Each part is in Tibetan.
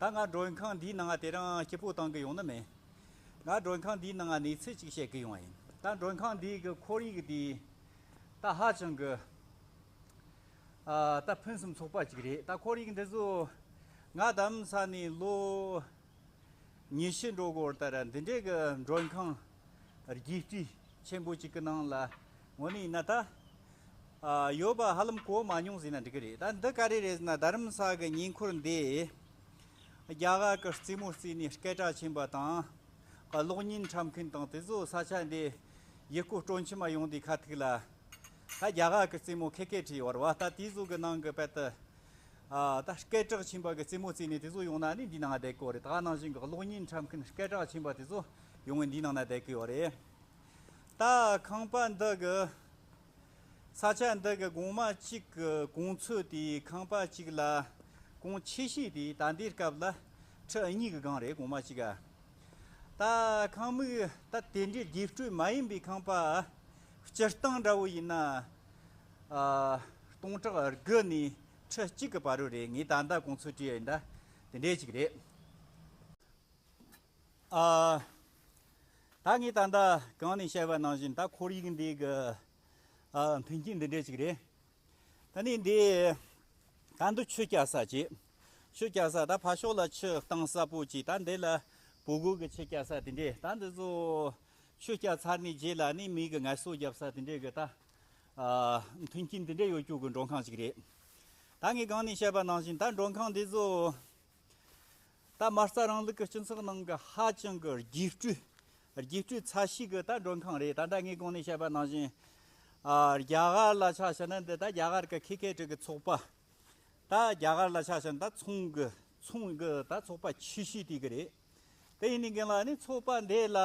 ད་ང་མགྲོན་ཁང་འདིའི་ནང་དེ་རིང་སྐྱིད་པོ་གཏང་གི་ཡོང་ནི་མིན། ང་མགྲོན་ཁང་འདིའི་ནང་གནས་ཚུལ་གཅིག་བཤད་གི་ཡོང་བ་ཡིན། ད་མགྲོན་ཁང་འདིའི་གི་ཁོར་ཡིག་འདི་ད་ཧ་ཅང་གི་ད་ཕུན་སུམ་ཚོགས་པ་ཅིག་རེད་ད་ཁོར་ཡིག་འདི་ཚོ་ང་དམ་ས་ནས་ལོ་ཉི་བཞི་འགྲོ་སྐོར་ལྟར་འདི་འདྲའི་གི་མགྲོན་ཁང་རྒྱས་སྤྲོས་ཆེན་པོ་ཅིག་གི་ནང་ལ་ངོ་ནི་ཡིན་ན་ད། ཡོད་པ་ཧ་ལམ་གོ་མ་མྱོང་ཟེར་ན་འགྲིག་གི་རེད་ད་འདི་ག་རེ་རེད་ཟེར་ན་རྡ་རམ་ས་གི་ཉེ་འཁོར་འདི། རྒྱ་གར་གི་རྩེད་མོ་རྩེས་ནས་སྐད་གྲགས་ཆེན་པ་དང། གློག་བརྙན་འཁྲབ་མཁན་དང་དེ་ཚོ་ས་ཆ་འདི་ཡི་སྐོར་སྤྲོ་འཆམ་མ་ཡོང་དུས་ཁ་ཐུག་ལ། ད་རྒྱ་གར་གི་རྩེད་མོ་ཁད་ཁད་བྲིས་ཡོད་རེད་བ་ད་དེ་ཚོ་གི་ནང་གི་དཔེ་ལྟ། ད་སྐད་གྲགས་ཆེན་པ་གི་རྩེད་མོ་རྩེས་ནས་དེ་ཚོ་ཡོང་ན་ནི་འདིའི་ནང་བསྡད་ཀི་ཡོད་རེད་ད་ནང་བཞིན་གི་གློག་བརྙན་འཁྲབ་མཁན་སྐད་གྲགས་ཆེན་པ་དེ་ཚོ་ཡོང་ནས་འདིའི་ནང་ན་བསྡད་ཀི་ཡོད་རེད། ད་ཁང་པ་འདི་གི་ས་ཆ་འདི་གི་གོང་མ་གཅིག་གི་གོང་ཚོད་དེ་ཁང་པ་གཅིག་ལ་གོང་ཆེ་ཤོས་དེ་ད་ལྟའི་སྐབས་ལ་ཁྲི་གཉིས་ཀྱི་སྒང་རེད་གོང་མ་གཅིག་ག་ད་ཁང་མིག་ད་དེ་འདྲའི་རྒྱས་སྤྲོས་མ་ཡིན་པའི་ཁང་པ་སྤྱིར་བཏང་འདྲ་བོ་ཡིན་ན་སྟོང་ཕྲག་དགུ་ནས་ཁྲི་གཅིག་གི་བར་རེད་ངས་ད་ལྟ་གོང་ཚོད་དྲིས་འདྲ་དེ་འདྲའི་ཅིག་རེད། ཨ། ད་ངས་ད་ལྟ་གང་ནས་བཤད་པ་ནང་བཞིན་ད་ཁོར་ཡུག་འདི་གི་མཐུན་རྐྱེན་འདི་འདྲས་ཅིག་རེད། ད་ནི་འདི་ད་འདི་ཆུ་བསྐྱལ་ས་ཅིག། ཆུ་བསྐྱལ་ས་ད་ཕར་ཕྱོགས་ལ་ཆུ་གཏང་ས་པོ་ཅིག་ད་འདི་ལ་བུ་རྒོད་ཀྱི་ཆུ་བསྐྱལ་ས་དེ་འདྲས་ད་འདི་ཚོ་ཆུ་བསྐྱལ་ཚར་ནས་རྗེས་ལ་ནི་མིག་གི་ངལ་གསོ་བརྒྱབ་ས་དེ་འདྲས་ཀྱི་ད་མཐུན་རྐྱེན་དེ་འདྲས་ཡོད་སྐྱུག་གི་མགྲོན་ཁང་ཅིག་རེད། ད་ངས་གང་ནས་བཤད་པ་ནང་བཞིན་ད་མགྲོན་ཁང་འདི་ཚོ། ད་མ་རྩ་རང་ལུགས་ཀྱི་སྤྱི་ཚོགས་ནང་གི་ཧ་ཅང་གི་རྒྱས་སྤྲོས། རྒྱས་སྤྲོས་ཚ་ཤིག་གི་ད་མགྲོན་ཁང་རེད་ད་ད་ངས་གོང་ནས་བཤད་པ་ནང་བཞིན། རྒྱ་གར་ལ་ཆགས་ཞེན་ན་འདི་ད་རྒྱ་གར་གི་ཁེ་ཁེ་དྲུག་གི་ཚོགས་པ། ད་རྒྱ་གར་ལ་ཆགས་ཞེན་ད་ཚོང་གི་ཚོང་གི་ད་ཚོགས་པ་ཆེ་ཤོས་དེ་གི་རེད། དེ་ཡིན་ནའི་གིན་ལ་ནི་ཚོགས་པ་འདི་ལ་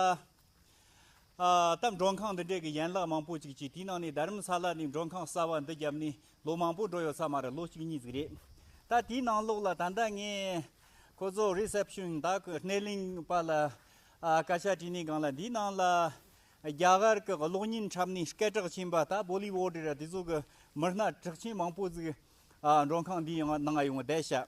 སྟབས་མགྲོན་ཁང་འདི་འདྲས་ཀྱི་ཡན་ལག་མང་པོ་ཅིག་གཅིག་དེའི་ནང་ནས་རྡ་རམ་ས་ལ་ནས་མགྲོན་ཁང་གསར་བ་འདི་བརྒྱབ་ནས་ལོ་མང་པོ་འགྲོ་ཡོད་ས་མ་རེད་ལོ་གཅིག་གཉིས་ཟིག་རེད། ད་དེའི་ནང་ལོགས་ལ་ད་ལྟ་ངས་ཁོ་ཚོ Reception དག་གི་སྣེ་ལེན་པ་ལ་སྐད་ཆ་དྲིས་ནས་སྒང་ལ་འདིའི་ནང་ལ་རྒྱ་གར་གྱི་གློག་བརྙན་འཁྲབ་ནས་སྐད་གྲགས་ཆེན་པ་དག Bollywood རེད་དེ་ཚོ་གི་མི་སྣ་གྲགས་ཆེན་མང་པོ་ཟིག་མགྲོན་ཁང་འདིའི་ནང་ཡོང་བར་བསྡད་བྱ།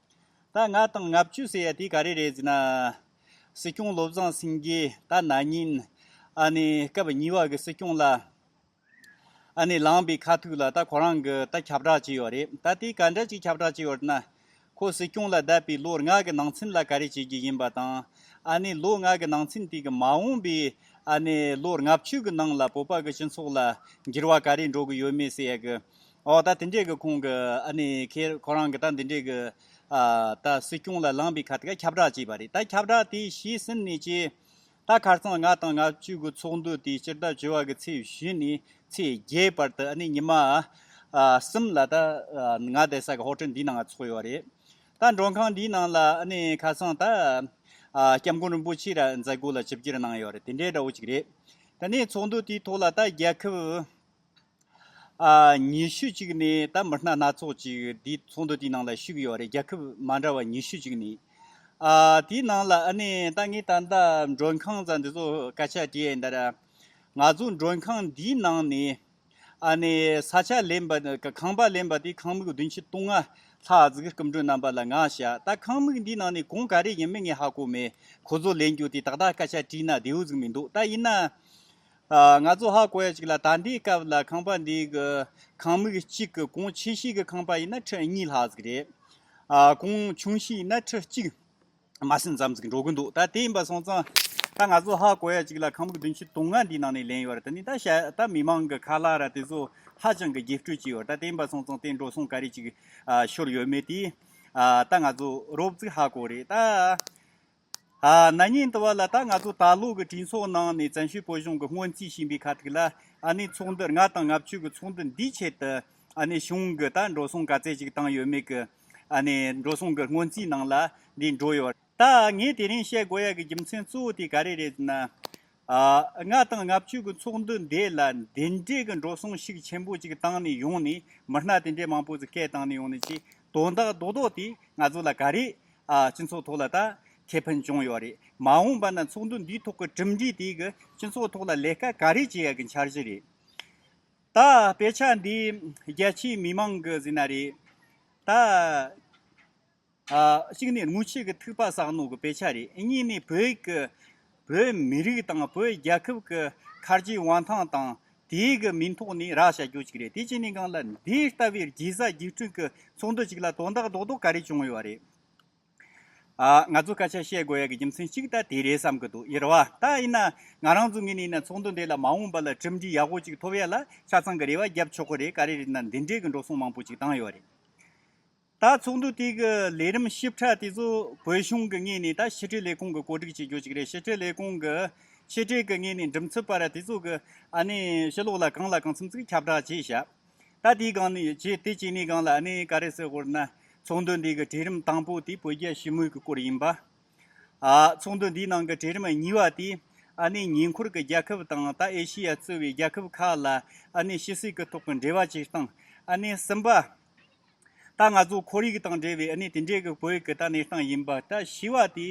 ད་ང་དང་ལྔ་བཅུ་ཟེར་ཡ་དེ་ག་རེ་རེད་ཟེར་ན། སྲིད་སྐྱོང་བློ་བཟང་སེང་གེ་ད་ན་ཉིན་ཨ་ནེ་སྐབས་གཉིས་བ་གི་སྲིད་སྐྱོང་ལ་ཨ་ནེ་ལངས་པའི་ཁ་ཐུག་ལ་ད་ཁོ་རང་གི་ད་ཁྱབ་བསྒྲགས་བྱས་ཡོད་རེད་ད་དེ་ག་འདྲ་ཅིག་ཁྱབ་བསྒྲགས་བྱས་ཡོད་ན། ཁོ་སྲིད་སྐྱོང་ལ་བསྡད་པའི་ལོ་ལྔ་གི་ནང་ཚུན་ལ་ག་རེ་བྱེད་རྒྱུ་ཡིན་པ་དང་ཨ་ནེ་ལོ་ལྔ་གི་ནང་ཚུན་དེ་གི་མ་འོངས་པའི་ཨ་ནེ་ལོ་ལྔ་བཅུ་གི་ནང་ལ་བོད་པ་གི་སྤྱི་ཚོགས་ལ་འགྱུར་བ་ག་རེ་འགྲོ་གི་ཡོད་མེད་ཟེར་ཡ་གི་འོ་ད་དེ་འདྲའི་གི་ཁོང་གི་ཨ་ནི་ཁེར་ཁོ་རང་གི་ད་འདི་འདྲའི་གི། ད་སྲིད་སྐྱོང་ལ་ལངས་པའི་ཁ་ཏི་ཀ་ཁྱབ་བསྒྲགས་བྱས་པ་རེད་ད་ཁྱབ་བསྒྲགས་དེ་ཤེས་ཟིན་ནས་ཀྱི། ད་ཁར་སང་ང་དང་ང་བཅུ་གི་ཚོགས་འདུ་དེ་སྤྱིར་བདག་བྱོལ་བ་གི་ཚེས་བཞི་ནས་ཚེས་བརྒྱད་བར་དུ་ཨ་ནི་ཉི་མ། གསུམ་ལ་ད། ང་བསྡད་ས་གི་ཧོ་ཏེལ་འདིའི་ནང་ང་ཚོགས་ཡོད་རེད། ད་མགྲོན་ཁང་འདིའི་ནང་ལ་ཨ་ནི་ཁ་སང་ད། སྐྱབས་མགོན་རིན་པོ་ཆེ་ར་མཛད་སྒོ་ལ་ཞིབ་གྱེར་གནང་ཡོད་རེད་དེ་འདྲའི་འདྲ་བོ་ཅིག་རེད། དེ་ནས་ཚོགས་འདུ་དེའི་ཐོག་ལ་ད་རྒྱལ་ཁབ། ཉི་ཤུ་གཅིག་ནི་ད་མི་སྣ་སྣ་ཚོགས་ཅིག་དེའི་ཚོགས་འདུ་དེའི་ནང་ལ་ཞུགས་ཡོད་རེད་རྒྱལ་ཁབ་མ་འདྲ་བ་ཉི་ཤུ་གཅིག་ནི། དེའི་ནང་ལ་ཨ་ནེ་ད་ངས་ད་ལྟ་མགྲོན་ཁང་ཙམ་འདི་ཚོ་སྐད་ཆ་དྲིས་ཡིན་དར། ང་ཚོ་མགྲོན་ཁང་འདིའི་ནང་ནས་ཨ་ནེ་ས་ཆ་ལེན་པ་ཁང་པ་ལེན་པ་དེ་ཁང་མིག་བདུན་ཁྲི་སྟོང་ལྔ་ལྷག་བརྩི་གི་སྐུ་མགྲོན་རྣམ་པ་ལ་ང་བཤད་ད་ཁང་མིག་འདིའི་ནང་ནས་གང་ག་རེ་ཡིན་མིན་ངས་ཧ་གོ་མེད་ཁོ་ཚོ་ལེན་རྒྱུ་དེ་ཏག་ཏག་སྐད་ཆ་དྲིས་ན་བདེའུ་གཟིགས་མི་འདུག་ད་ཡིན་ན། ང་ཚོ་ཧ་གོ་ཡ་ཅིག་ལ་ད་ལྟའི་སྐབས་ལ་ཁང་པ་འདིའི་གི་ཁང་མིག་གཅིག་གི་གོང་ཆེ་ཤོས་ཀྱི་ཁང་པ་ཡིན་ན་ཁྲི་གཉིས་ལྷག་ཟིག་རེད། གོང་ཆུང་ཤོས་ཡིན་ན་ཁྲི་གཅིག་མ་ཟིན་ཙམ་ཟིག་འགྲོ་གི་འདུག་ད་དེ་ཡིན་པ་སོང་ཙང་ད་ང་ཚོ་ཧ་གོ་ཡ་ཅིག་ལ་ཁང་མིག་བདུན་བཅུ་དུང་ལྔ་འདིའི་ནང་ནས་ལེན་ཡོད་རེད་ད་ནི་ད་བཤད་ད་མི་མང་གི་ཁ་ལག་ར་དེ་ཚོ་ཧ་ཅང་གི་རྒྱས་སྤྲོས་ཀྱི་ཡོད་རེད་ད་དེ་ཡིན་པ་སོང་ཙང་དེ་འགྲོ་སོང་ག་རེ་ཅིག་ཤོར་ཡོད་མེད་དེ་ད་ང་ཚོ་རོབ་ཙིག་ཧ་གོ་རེད་ད། ན་ནིང་དུ་བ་ལ་ད་ང་ཚོ་ད་ལོ་གི་གྲོས་ཚོགས་ནང་ནས་བཙན་བྱོལ་བོད་གཞུང་གི་སྔོན་རྩིས་བྱིན་པའི་ཁ་ཐུག་ལ་ཨ་ནི་ཚོགས་འདུ་ལྔ་དང་ལྔ་བཅུ་གི་ཚོགས་འདུ་འདིའི་ཆེད་དུ་ཨ་ནི་གཞུང་གི་ད་འགྲོ་སོང་ག་ཚད་ཅིག་བཏང་ཡོད་མེད་གི་ཨ་ནི་འགྲོ་སོང་གི་སྔོན་རྩིས་ནང་ལ་འདི་འགྲོ་ཡོད། ད་ངས་དེ་རིང་བཤད་དགོས་ཡག་གི་རྒྱུ་མཚན་གཙོ་བོ་དེ་ག་རེ་རེད་ཟེར་ན། ལྔ་དང་ལྔ་བཅུ་གྱི་ཚོགས་འདུ་འདི་ལ་འདི་འདྲའི་གི་འགྲོ་སོང་ཤུགས་ཆེན་པོ་ཅིག་བཏང་ནས་ཡོང་ནས་མི་སྣ་དེ་འདྲའི་མང་པོ་ཚོ་སྐད་བཏང་ནས་ཡོང་ནས་ཅིག་དོན་དག་རྡོག་རྡོག་དེ་ང་ཚོ་ལ་ག་རེ། སྤྱི་ཚོགས་ཐོག་ལ་ད་ཁེ་ཕན་བྱུང་ཡོད་རེད་མ་འོངས་པ་ན་ཚོགས་འདུ་འདིའི་ཐོག་གི་གྲུབ་འབྲས་དེ་གི་སྤྱི་ཚོགས་ཐོག་ལ་ལས་ཀ་ག་རེ་བྱེད་ཡ་གི་འཆར་གཞི་རེད། ད་དཔེ་ཆ་འདི་རྒྱལ་སྤྱིའི་མི་མང་གི་ཟིན་ན་རེད། ད། གཅིག་ནི་དངུལ་ཆད་ཀྱི་ཐིག་པ་གསག་ནོར་གྱི་དཔེ་ཆ་རེད་གཉིས་ནི་བོད་ཀྱི་བོད་མི་རིགས་དང་བོད་རྒྱལ་ཁབ་ཀྱི་མཁར་རྗེའི་དབང་ཐང་དང་དེའི་གི་མིང་ཐོག་ནས་རག་བྱ་རྒྱུ་གཅིག་རེད་དེ་གཅིག་ནི་སྒང་ལ་འདི་ལྟ་བུའི་རྒྱལ་ས་རྒྱལ་ཁྲུང་གི་ཚོགས་འདུ་གཅིག་ལ་དོ་བདག་རྡོག་རྡོག་ག་རེ་བྱུང་ཡོད་རེད། ང་ཚོ་སྐད་ཆ་བཤད་དགོས་ཡག་གི་རྒྱུ་མཚན་གཅིག་ད་དེ་རེད་བསམ་གྱི་འདུག་ཡེར་བ་ད་ཡིན་ན་ང་རང་ཚོ་ངེད་ནས་ཡིན་ན་ཚོགས་འདུ་འདི་ལ་མ་འོངས་པ་ལ་གྲུབ་འབྲས་ཡག་པོ་གཅིག་ཐོབ་ཡག་ལ་ཆ་ཚང་གི་རེ་བ་རྒྱབ་ཆོག་གི་རེད་ག་རེ་རེད་ན་འདི་འདྲའི་གི་འགྲོ་སོང་མང་པོ་གཅིག་བཏང་ཡོད་རེད། ད་ཚོགས་འདུ་དེ་གི་ལས་རིམ་ཞིབ་ཕྲ་དེ་ཚོ་བོད་གཞུང་གི་ངོས་ནས་ད་ཕྱི་དྲིལ་ལས་ཁུངས་ཀྱི་གོ་སྒྲིག་བྱེད་རྒྱུ་ཞིག་རེད་ཕྱི་དྲིལ་ལས་ཁུངས་ཀྱི་ཕྱི་དྲིལ་གྱི་ངོས་ནས་འགྲིམ་ཚུལ་པར་དེ་ཚོ་གི་ཨ་ནི་ཕྱི་ལོག་ལ་གང་ལ་གང་འཚམས་ཚིག་ཁྱབ་བསྒྲགས་བྱས་ཞག་ད་དེ་གང་ནས་བྱས་དེ་བྱས་ནས་གང་ལ་ཨ་ནི་ག་རེ་ཟེར་ཧོར་ན་ཚོགས་འདུ་འདི་གི་གྲས་རིམ་དང་པོ་དེ་བོད་རྒྱ་ཞི་མོལ་གྱི་སྐོར་ཡིན་པ། ཚོགས་འདུ་འདིའི་ནང་གི་གྲས་རིམ་གཉིས་པ་དེ་ཨ་ནི་ཉེ་འཁོར་གྱི་རྒྱལ་ཁབ་དང་ད་ཨེ་ཤི་ཡ་གཙོས་བའི་རྒྱལ་ཁབ་ཁག་ལ་ཨ་ནི་ཕྱི་སྲིད་ཀྱི་ཐོག་གི་འབྲེལ་བ་བྱེད་སྟངས་ཨ་ནི་གསུམ་པ། ད་ང་ཚོ་ཁོར་ཡུག་དང་འབྲེལ་བའི་གནས་དེ་འདྲའི་གི་བོད་ཀྱི་ད་གནས་སྟངས་ཡིན་པ་ད་ཞི་བ་དེ་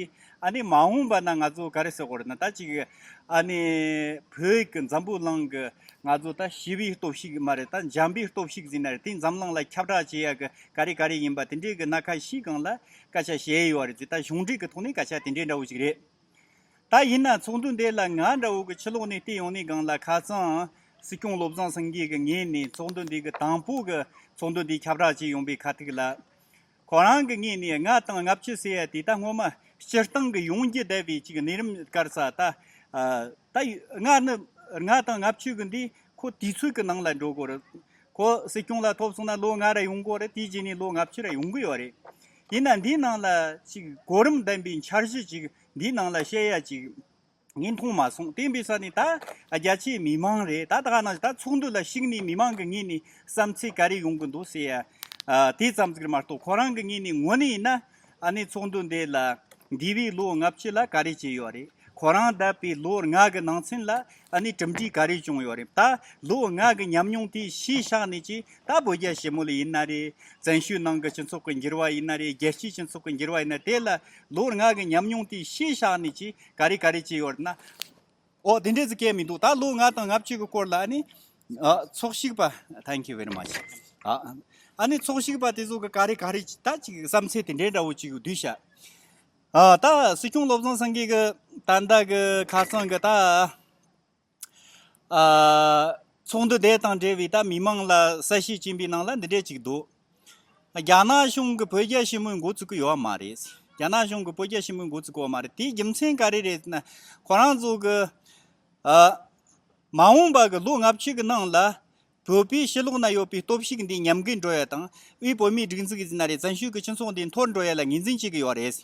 གནས་མ་འོངས་པ་ན་ང་ཚོ་ག་རེ་ཟེར་དགོས་རེད་ན་ད་ཅིག་གནས་བོད་ཀྱི་འཛམ་བུ་གླིང་གི་ང་ཚོ་ད་ཞི་བའི་སྟོབས་ཤིག་མ་རེད་ད་འཇམ་པའི་སྟོབས་ཤིག་ཟིན་ན་རེད་དེ་འཛམ་གླིང་ལ་ཁྱབ་བསྒྲགས་བྱེད་ཡག་གི་ག་རེ་ག་རེ་ཡིན་པ་དེ་འདྲའི་གི་སྣ་ཁ་ཞིག་གང་ལ་སྐད་ཆ་བཤད་ཡོད་རེད་ད་གཞུང་འབྲེལ་གི་ཐོག་ནས་སྐད་ཆ་དེ་འདྲའི་འདྲ་བོ་ཞིག་རེད། ད་ཡིན་ན་ཚོགས་འདུ་འདི་ལ་ང་འདྲ་བོ་གི་ཕྱི་ལོགས་ནས་བལྟས་ཡོང་ནས་སྒང་ལ་ཁ་སང་སྲིད་སྐྱོང་བློ་བཟང་སེང་གེ་གི་ངས་ནས་ཚོགས་འདུ་འདི་གི་དང་པོ་གི་ཚོགས་འདུ་འདི་ཁྱབ་བསྒྲགས་བྱས་ཡོང་པའི་ཁ་ཐུག་ལ། ཁོ་རང་གི་ངས་ནས་ལྔ་དང་ལྔ་བཅུ་ཟེར་ཡ་དེ་ད་སྔོན་མ་སྤྱིར་བཏང་གི་ཡོང་རྒྱུ་བསྡད་པའི་ཅིག་གནས་རིམ་བསྐར་ས་ད། ད་ལྔ་ནི་ལྔ་དང་ལྔ་བཅུ་གི་འདི་ཁོ་དུས་ཚོད་ཀྱི་ནང་ལ་འགྲོ་དགོས་རེད། ཁོ་སྲིད་སྐྱོང་ལ་ཐོབ་སོང་ན་ལོ་ལྔ་རེ་ཡོང་དགོས་རེད་དེ་རྗེས་ནས་ལོ་ལྔ་བཅུ་རེ་ཡོང་གི་ཡོད་རེད། དེས་ན་འདིའི་ནང་ལ་ཅིག་གོ་རིམ་ལྡན་པའི་འཆར་གཞི་ཅིག་འདིའི་ནང་ལ་བཤད་ཡ་ཅིག་ངས་མཐོང་མ་སོང་བསྟན་པའི་ས་ནས་ད་རྒྱ་ཆེའི་མི་མང་རེད་ད་ད་ནང་ད་ཚོགས་འདུ་ལ་ཞིག་ནས་མི་མང་གི་ངོས་ནས་བསམ་ཚེ་ག་རེ་ཡོང་གི་འདུག་ཟེར་ཡ་དེ་ཙམ་ཟིག་རེད་མ་གཏོགས་ཁོ་རང་གི་ངོས་ནས་ངོ་ནས་ཡིན་ན་ཨ་ནེ་ཚོགས་འདུ་འདི་ལ་འདི་བས་ལོ་ལྔ་བཅུ་ལ་ག་རེ་བྱས་ཡོད་རེད། ཁོ་རང་འདས་པའི་ལོ་ལྔ་གི་ནང་ཚུན་ལ་ཨ་ནེ་གྲུབ་འབྲས་ག་རེ་བྱུང་ཡོད་རེད་ད། ལོ་ལྔ་གི་ཉམས་མྱོང་དེ་གཞིས་ཆགས་ནས་ཀྱི་ད་བོད་རྒྱ་ཞེ་མོ་ལ་ཡིན་ན་རེད། བཙན་ཤུལ་ནང་གི་སྤྱི་ཚོགས་ཀྱི་འགྱུར་བ་ཡིན་ན་རེད་རྒྱལ་སྤྱིའི་སྤྱི་ཚོགས་ཀྱི་འགྱུར་བ་ཡིན་ན་དེ་ལ་ལོ་ལྔ་གི་ཉམས་མྱོང་དེ་གཞིས་ཆགས་ནས་ཀྱི་ག་རེ་ག་རེ་བྱས་ཡོད་རེད་ན། འོ་དེ་འདྲས་ཚོ་སྐད་མི་འདུག་ད་ལོ་ལྔ་དང་ལྔ་བཅུ་གི་སྐོར་ལ་ཨ་ནེ། ཚོགས་ཞུགས་པ Thank you very much ཨ་ནེ་ཚོགས་ཞུགས་པ་དེ་ཚོ་གི་ག་རེ་ག་རེ་ད་ཅིག་བསམ་ཚེ་དེ་འདྲས་འདྲ་བོ་ཅིག་བསྡུས་བྱ། ད་སྲིད་སྐྱོང་བློ་བཟང་སེང་གེ་གི་ད་ལྟ་གི་ཁ་སང་གི་ད་ཚོགས་འདུ་དེ་དང་འབྲེལ་བའི་ད་མི་མང་ལ་གསལ་བཤད་བྱིན་པའི་ནང་ལ་འདི་འདྲས་ཅིག་འདུག་རྒྱ་ནག་གཞུང་གི་བོད་རྒྱ་ཞི་མོལ་འགོ་བཙུགས་ཀི་ཡོད་མ་རེད། རྒྱ་ནག་གཞུང་གི་བོད་རྒྱ་ཞི་མོལ་འགོ་བཙུགས་ཀི་ཡོད་མ་རེད་དེའི་རྒྱུ་མཚན་ག་རེ་རེད་ན་ཁོ་རང་ཚོ་གི་མ་འོངས་པ་གི་ལོ་ལྔ་བཅུ་གི་ནང་ལ་བོད་པའི་ཕྱི་ལོགས་ན་ཡོད་པའི་སྟོབས་ཤུགས་འདིས་ཉམས་རྒུད་འགྲོ་ཡ་དང་དབུས་བོད་མིའི་སྒྲིག་འཛུགས་ཀྱི་ན་རེ་བཙན་ཤོས་ཀྱི་སྤྱི་ཚོགས་འདི་འཐོར་འགྲོ་ཡ་ལ་ངེས་འཛིན་བྱེད་ཀྱི་ཡོད་རེད།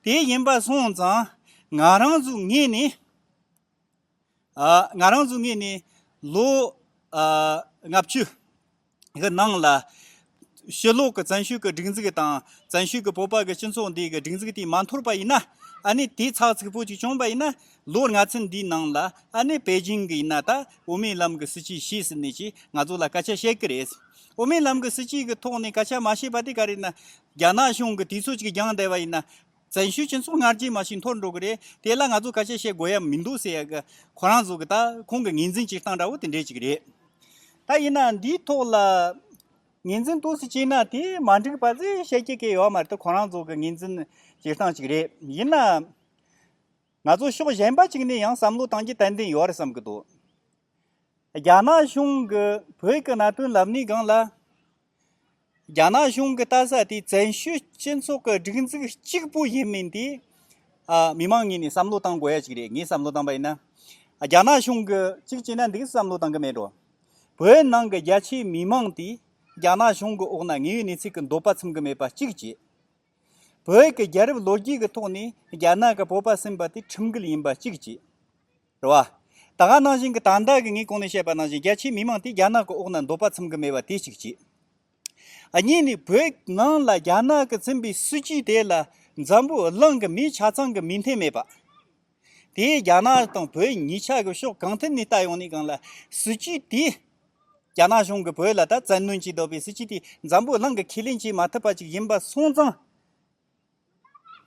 དེ་ཡིན་པ་སོང་ཙང་ང་རང་ཚོའི་ངོས་ནས། ང་རང་ཚོའི་ངོས་ནས་ལོ་ལྔ་བཅུ་ཡི་ནང་ལ་ཕྱི་ལོག་གི་བཙན་ཤོས་ཀྱི་སྒྲིག་འཛུགས་དང་བཙན་ཤོས་ཀྱི་བོད་པ་གྱི་སྤྱི་ཚོགས་འདིའི་སྒྲིག་འཛུགས་དེ་མ་འཐོར་པ་ཡིན་ན། ཨ་ནི་དེ་ཚགས་ཚུད་པོ་ཅིག་བྱུང་བ་ཡིན་ན། ལོ་ལྔ་ཚན་འདིའི་ནང་ལ་ཨ་ནི་པེ་ཅིང་གི་ཡིན་ན་ད་དབུ་མའི་ལམ་གྱི་སྲིད་སྤྱི་ཤེས་ཟིན་ནས་ཀྱི་ང་ཚོ་ལ་སྐད་ཆ་བཤད་ཀྱི་རེད། དབུ་མའི་ལམ་གྱི་སྲིད་སྤྱི་གྱི་ཐོག་ནས་སྐད་ཆ་མ་བཤད་པ་དེ་ག་རེ་ཡིན་ན། རྒྱ་ནག་གཞུང་གི་དུས་ཚོད་ཅིག་འགྱངས་བསྡད་པ་ཡིན་ན། བཙན་ཤོས་སྤྱི་ཚོགས་སྔར་རྒྱུན་མ་ཞིག་འཐོར་འགྲོ་གི་རེད་དེ་ལ་ང་ཚོས་ག་ཤེད་བཤད་དགོས་ཡ་མི་འདུག་ཟེར་ཡ་ཁོ་རང་ཚོ་གི་ད་ཁོང་གི་ངེས་འཛིན་སྤྱིར་བཏང་འདྲ་བོ་དེ་འདྲས་ཅིག་རེད། ད་ཡིན་ན་འདིའི་ཐོག་ལ་ངེས་འཛིན་གཏོང་སྲིད་ཅིག་ན་དེ་མ་འགྲིག་པ་ཟེར་བཤད་ཀྱི་གི་ཡོད་མ་རེད་ཁོ་རང་ཚོ་གི་ངེས་འཛིན་སྤྱིར་བཏང་ཅིག་རེད་ཡིན་ན། ང་ཚོ་ཕྱོགས་གཞན་པ་ཅིག་ནས་ཡང་བསམ་བློ་གཏང་རྒྱུ་ཏན་ཏན་ཡོད་རེད་བསམ་གི་འདུག་རྒྱ་ནག་གཞུང་གི་བོད་ཀྱི་གནད་དོན་ལབ་ནི་སྒང་ལ། རྒྱ་ནག་གཞུང་གི་ལྟ་ས་དེ་བཙན་བྱོལ་སྤྱི་ཚོགས་ཀྱི་སྒྲིག་འཛུགས་གཅིག་པུ་ཡིན་མིན་དེ། མི་མང་གཉིས་ནས་བསམ་བློ་བཏང་དགོས་ཡ་གཅིག་རེད་ངས་བསམ་བློ་བཏང་པ་ཡིན་ན། རྒྱ་ནག་གཞུང་གི་གཅིག་བྱས་ན་འདིའི་བསམ་བློ་བཏང་གི་མེད་འགྲོ། བོད་ནང་གི་རྒྱ་ཆེའི་མི་མང་དེ་རྒྱ་ནག་གཞུང་གི་འོག་ན་ངའི་གནས་ཚུལ་གྱི་འདོད་པ་ཚིམ་གི་མེད་པ་གཅིག་བྱས། བོད་ཀྱི་རྒྱལ་རབས་ལོ་རྒྱུས་ཀྱི་ཐོག་ནས་རྒྱ་ནག་གི་སྤོབས་པ་སེམས་པ་དེ་ཁྲིམས་འགལ་ཡིན་པ་གཅིག་བྱས། རེད་བ། ད་ག་ནང་བཞིན་གྱི་དང་བདག་གིས་ངས་གོང་ནས་བཤད་པ་ནང་བཞིན་རྒྱ་ཆེའི་མི་མང་དེ་རྒྱ་ནག་གི་འོག་ན་འདོགས་པ་འཚམ་གྱི་མེད་བ་དེ་གཅིག་གཅིག། གཉིས་ནི་བོད་ནང་ལ་རྒྱ་ནག་གི་ཚིམ་པའི་སྲིད་ཇུས་དེ་ལ་འཛམ་བུ་གླིང་གི་མིའི་ཆ་ཚང་གི་མིང་འཐེན་མེད་པ། དེས་རྒྱ་ནག་དང་བོད་གཉིས་ཆ་གི་ཕྱོགས་གང་ཐད་ནས་ལྟ་ཡོང་ནས་གང་ལ་སྲིད་ཇུས་དེས་རྒྱ་ནག་གཞུང་གིས་བོད་ལ་ད་བཙན་གནོན་གྱིས་འདོགས་པའི་སྲིད་ཇུས་དེ་འཛམ་བུ་གླིང་གི་ཁས་ལེན་བྱེད་མ་ཐུབ་པ་ཅིག་ཡིན་པ་སོང་ཙང།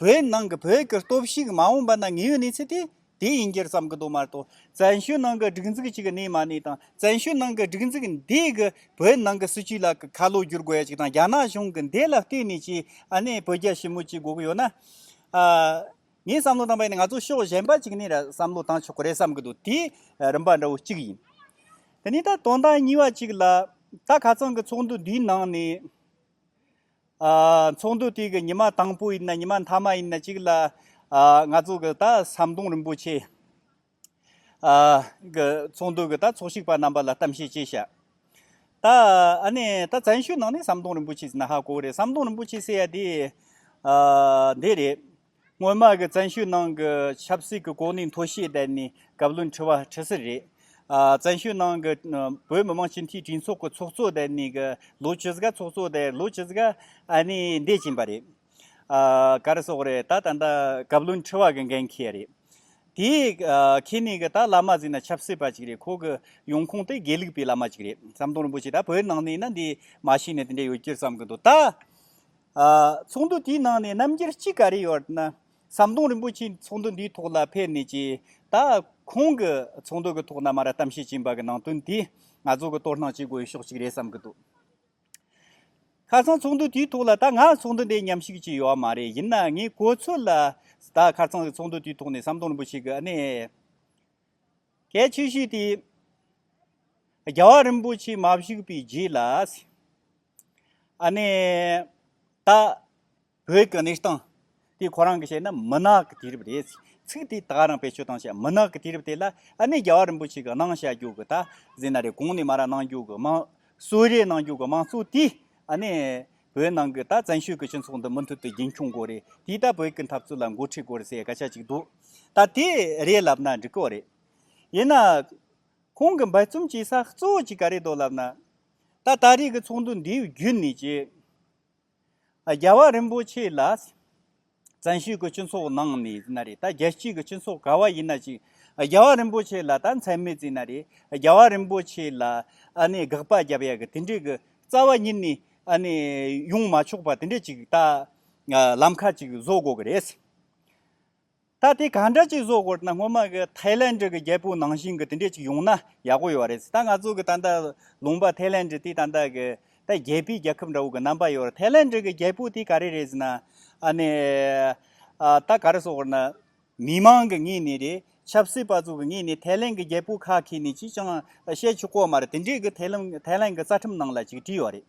བོད་ནང་གི་བོད་ཀྱི་སྟོབས་ཤུགས་མ་འོངས་པ་ན་དངོས་ཡོད་གནས་ཚུལ་དེ་དེ་ཡིན་རྒྱུར་བསམ་གྱི་འདུག་མ་གཏོགས་བཙན་བྱོལ་ནང་གི་སྒྲིག་འཛུགས་གཅིག་གི་གནས་མ་གནས་དང་བཙན་བྱོལ་ནང་གི་སྒྲིག་འཛུགས་འདི་གིས་བོད་ནང་གི་སྲིད་བྱུས་ལ་ཁ་ལོ་བསྒྱུར་དགོས་ཡ་གཅིག་དང་རྒྱ་ནག་གཞུང་གི་འདི་ལ་བལྟོས་ནས་ཀྱི་ཨ་ནེ་བོད་རྒྱ་ཞི་མོལ་གཅིག་དགོས་ཀྱི་ཡོད་ན། ངས་བསམ་བློ་བཏང་པ་ནི་ང་ཚོ་ཕྱོགས་གཞན་པ་གཅིག་ནས་བསམ་བློ་བཏང་ཆོག་གི་རེད་བསམ་གྱི་འདུག་དེ་རིམ་པ་འདྲ་བོ་གཅིག་ཡིན། དེ་ནས་ད་དོན་དག་གཉིས་པ་གཅིག་ལ། ད་ཁ་ཚང་གི་ཚོགས་འདུ་འདིའི་ནང་ནས། ཚོགས་འདུ་དེ་གི་ཉི་མ་དང་པོ་ཡིན་ན་ཉི་མ་མཐའ་མ་ཡིན་ན་གཅིག་ལ་ང་ཚོ་གི་ད་ཟམ་གདོང་རིན་པོ་ཆེ་གི་ཚོགས་འདུ་གི་ད་ཚོགས་ཞུགས་པ་རྣམ་པ་ལ་གཏམ་བཤད་བྱས་ཤག་ད་ཨ་ནི་ད་བཙན་བྱོལ་ནང་ནས་ཟམ་གདོང་རིན་པོ་ཆེ་ཟེར་ན་ཧ་གོ་བོ་རེད་ཟམ་གདོང་རིན་པོ་ཆེ་ཟེར་ཡ་དེ་འདི་རེད། སྔོན་མ་གི་བཙན་ཤོས་ནང་གི་ཆབ་སྲིད་ཀྱི་གོ་གནས་མཐོ་ཤོས་བསྡད་ནས་བཀའ་བློན་ཁྲི་བ་ཁྲི་སི་རེད། བཙན་ཤོས་ནང་གི་བོད་མི་མང་སྤྱི་འཐུས་གྲོས་ཚོགས་ཀྱི་ཚོགས་གཙོ་བསྡད་ནས་གི་ལོ་བཅུ་གཟའ་ཚོགས་གཙོ་བསྡད་ལོ་བཅུ་གཟའ་ཨ་ནི་འདས་ཕྱིན་པ་རེད། ག་རེ་སོགས་རེད་ད་ད་ལྟ་བཀའ་བློན་ཁྲི་བ་གི་འགན་ཁྱེད་རེད། དེ་ཁྱེད་ནས་གི་ད་བླ་མ་ཟིག་ན་ཆབ་སྲིད་པ་ཅིག་རེད་ཁོ་གི་ཡོང་ཁུངས་དེ་དགེ་ལུགས་པའི་བླ་མ་ཅིག་རེད་ཟམ་གདོང་རིན་པོ་ཆེ་ད་བོད་ནང་ནས་ན་འདི་མ་ཤེས་ནས་དེ་འདྲ་ཡོད་རྒྱུར་བསམ་གི་འདུག་ད། ཚོགས་འདུ་དེའི་ནང་ནས་རྣམ་རྒྱལ་གཅིག་ག་རེ་ཡོད་ན། ཟམ་གདོང་རིན་པོ་ཆེ་ཚོགས་འདུ་འདིའི་ཐོག་ལ་ཕེབས་ནས་ཀྱི་ད་ཁོང་གི་ཚོགས་འདུ་གི་ཐོག་ན་མ་ར་གཏམ་བཤད་ཀྱིན་པ་གི་ནང་དོན་དེ་ང་ཚོ་གི་དོར་སྣང་བྱེད་དགོས་ཕྱོགས་གཅིག་རེད་བསམ་གི་འདུག་ཁ་སང་ཚོགས་འདུ་དེའི་ཐོག་ལ་ད་ང་ཚོགས་འདུ་འདི་ཉམས་ཞིབ་ཀྱིས་ཡོད་མ་རེད་ཡིན་ན་ངས་གོ་ཚོད་ལ་ད་ཁ་སང་གི་ཚོགས་འདུ་དེའི་ཐོག་ནས་ཟམ་གདོང་རིན་པོ་ཆེ་གི་གནད་གལ་ཆེ་ཤོས་དེ་རྒྱལ་བ་རིན་པོ་ཆེ་མ་བཞུགས་པའི་རྗེས་ལ། ཨ་ནེ། ད། བོད་ཀྱི་གནས་སྟངས། དེ་ཁོ་རང་གི་བཤད་ན་མུན་ནག་གི་དུས་རབས་རེད། ཚིག་དེ་དག་རང་བེད་སྤྱོད་བཏང་བྱས་མུན་ནག་གི་དུས་རབས་དེ་ལ་ཨ་ནེ་རྒྱལ་བ་རིན་པོ་ཆེ་གི་གནང་བཤད་རྒྱུགས་གི་ད་གཟིགས་ན་རེད་གོང་ནས་མ་ར་གནང་རྒྱུགས་གི་མང། གསོལ་རས་གནང་རྒྱུགས་གི་མང་གཙོ་དེ་ཨ་ནེ། བོད་ནང་གི་ད་བཙན་ཤོས་ཀྱི་སྤྱི་ཚོགས་འདི་མུ་མཐུད་དུ་རྒྱུན་འཁྱོངས་དགོས་རེད་དེ་ད་བོད་ཀྱི་འཐབ་རྩོད་ལ་འགོ་ཁྲིད་དགོས་རེད་ཟེར་སྐད་ཆ་ཅིག་འདུག་ད་དེ་རེད་ལབ་ན་འགྲིག་གི་རེད། ཡིན་ན། ཁོང་གི་འབད་བརྩོམ་གྱི་ས་གཙོ་གཅིག་ག་རེ་འདུག་ལབ་ན། ད་ལྟ་རིགས་ཀྱི་ཚོགས་འདུ་འདིའི་བརྒྱུད་ནས་ཀྱི། རྒྱལ་བ་རིན་པོ་ཆེ་ལ། བཙན་བྱོལ་གྱི་སྤྱི་ཚོགས་ནང་ནས་ཟིན་ན་རེད་ད་རྒྱལ་སྤྱིའི་གྱི་སྤྱི་ཚོགས་ག་བ་ཡིན་ན་ཅིག། རྒྱལ་བ་རིན་པོ་ཆེ་ལ་ད་མཚན་མེད་ཟིན་ན་རེད་རྒྱལ་བ་རིན་པོ་ཆེ་ལ། ཨ་ནི་དགག་པ་རྒྱབ་ཡ་གི་དེ་འདྲའི་གི་རྩ་བ་ཉིད་ནས་ཨ་ནི་ཡོང་མ་ཆོག་པ་དེ་འདྲའི་ཅིག་ད། ལམ་ཁ་ཅིག་བཟོ་དགོས་གི་རེད། ད་དེ་གང་འདྲ་ཅིག་བཟོ་དགོས་ན་སྔོན་མ་གི་ཐའི་ལན་འདྲི་གི་རྒྱལ་པོའི་ནང་བཞིན་གི་དེ་འདྲས་ཅིག་ཡོང་ན་ཡག་པོ་ཡོད་རེད་ད་ང་ཚོ་གི་ད་ལྟ་ལུང་པ་ཐའི་ལན་འདྲི་དེ་ད་ལྟ་གི་ད་རྒྱལ་པོའི་རྒྱལ་ཁབ་འདྲ་བོ་གི་རྣམ་པ་ཡོད་རེད་ཐའི་ལན་འདྲི་གི་རྒྱལ་པོ་དེ་ག་རེ་རེད་ཟེར་ན་ཨ་ནི་ད་ག་རེ་བཟོ་དགོས་ན་མི་མང་གི་ངོས་ནས་རེད་ཆབ་སྲིད་པ་ཚོ་གི་ངོས་ནས་ཐའི་ལན་གི་རྒྱལ་པོ་ཁ་ཁེ་ནི་ཅིས་ཀྱང་བཤད་ཆོག་ཀོ་མ་རེད་དེ་འདྲས་གི་ཐའི་ལན་གི་རྩ་ཁྲིམས་ནང་ལ་ཅིག་བྲིས་ཡོད་རེད།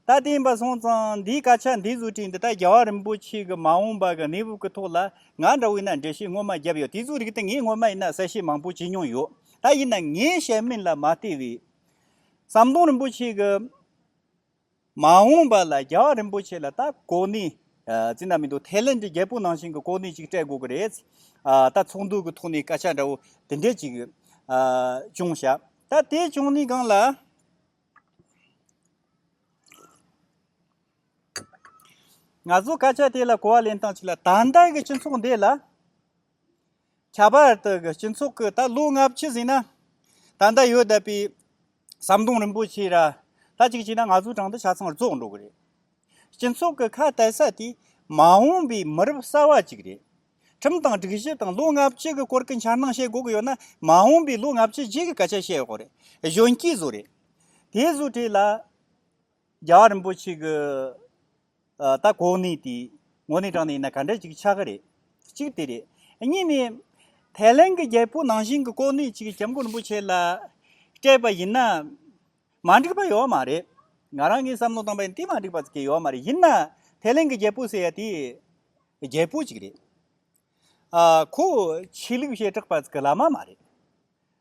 ད་ལྟའི་བར་སོང་ཙང་འདིའི་སྐད་ཆ་འདི་བཟོ་བྲིས་འདི་ལྟར་རྒྱལ་བ་རིན་པོ་ཆེ་གི་མ་འོངས་པ་གི་གནས་བབ་ཀྱི་ཐོག་ལ་ང་འདྲ་བོས་ན་འགྲེལ་བཤད་སྔོན་མ་བརྒྱབ་ཡོད་དེ་ཚོའི་རིགས་དེ་ངས་སྔོན་མ་ཡིན་ན་གསལ་བཤད་མང་པོ་བྱས་མྱོང་ཡོད་ད་ཡིན་ན་ངའི་བཤད་མིན་ལ་མ་བལྟས་བས། ཟམ་གདོང་རིན་པོ་ཆེ་གི་མ་འོངས་པ་ལ་རྒྱལ་བ་རིན་པོ་ཆེ་ལ་ད་གོ་གནས་ཅི་ན་མི་འདུག་ཐའི་ལེནྜ་རྒྱལ་པོ་ནང་བཞིན་གྱི་གོ་གནས་ཅིག་སྤྲད་དགོས་ཀྱི་རེད། ད་ཚོགས་འདུ་གི་ཐོག་ནས་སྐད་ཆ་འདྲ་བོ་དེ་འདྲས་ཅིག་བྱུང་ཞག་ད་དེ་བྱུང་ནས་གང་ལ། ང་ཚོ་སྐད་ཆ་དེ་ལ་གོ་བ་ལེན་སྟངས་ཅིག་ལ་ད་ལྟ་གི་སྤྱི་ཚོགས་འདི་ལ་ཁྱད་པར་དུ་གི་སྤྱི་ཚོགས་ཀྱི་ད་ལོ་སྔ་ཕྱི་ཟིན་ན་ད་ལྟ་ཡོད་བསྡད་པའི་ཟམ་གདོང་རིན་པོ་ཆེ་ར་ད་ཅིག་བྱས་ན་ང་ཚོའི་གྲངས་འདི་ཆ་ཚང་རྫོགས་འགྲོ་གི་རེད་སྤྱི་ཚོགས་ཀྱི་ཁ་གཏད་ས་དེ་མ་འོངས་པའི་མི་རབས་གསར་བ་ཅིག་རེད་ཁྲིམས་དང་སྒྲིག་གཞི་དང་ལོ་ལྔ་བཅུ་གི་སྐོར་གྱི་འཆར་སྣང་བཤད་དགོས་ཀྱི་ཡོད་ན་མ་འོངས་པའི་ལོ་ལྔ་བཅུ་རྗེས་ཀྱི་སྐད་ཆ་བཤད་དགོས་རེད། གཞོན་སྐྱེས་ཚོ་རེད། དེ་བཟོ་གྲས་ལ་རྒྱ་གར་རིན་པོ་ཆེ་གི་ད་གོ་གནས་དེ་ངོ་ནས་དྲངས་ནས་ཡིན་ན་ག་འདྲ་ཅིག་ཆགས་ཀྱི་རེད། གཅིག་དེ་རེད། གཉིས་ནས། ཐའི་ལན་གྱི་རྒྱལ་པོ་ནང་བཞིན་གྱི་གོ་གནས་ཅིག་སྐྱབས་མགོན་རིན་པོ་ཆེ་ལ་སྤྲད་པ་ཡིན་ན་མ་འགྲིག་པ་ཡོད་མ་རེད། ང་རང་གིས་བསམ་བློ་བཏང་པ་ཡིན་དེ་མ་འགྲིག་པ་ཡོད་མ་རེད། ཡིན་ན་ཐའི་ལན་གྱི་རྒྱལ་པོ་ཟེར་ཡ་དེ། རྒྱལ་པོ་ཅིག་རེད། ཁོ་ཆོས་ལུགས་བྱེ་བྲག་པ་ཚིག་གི་བླ་མ་མ་རེད།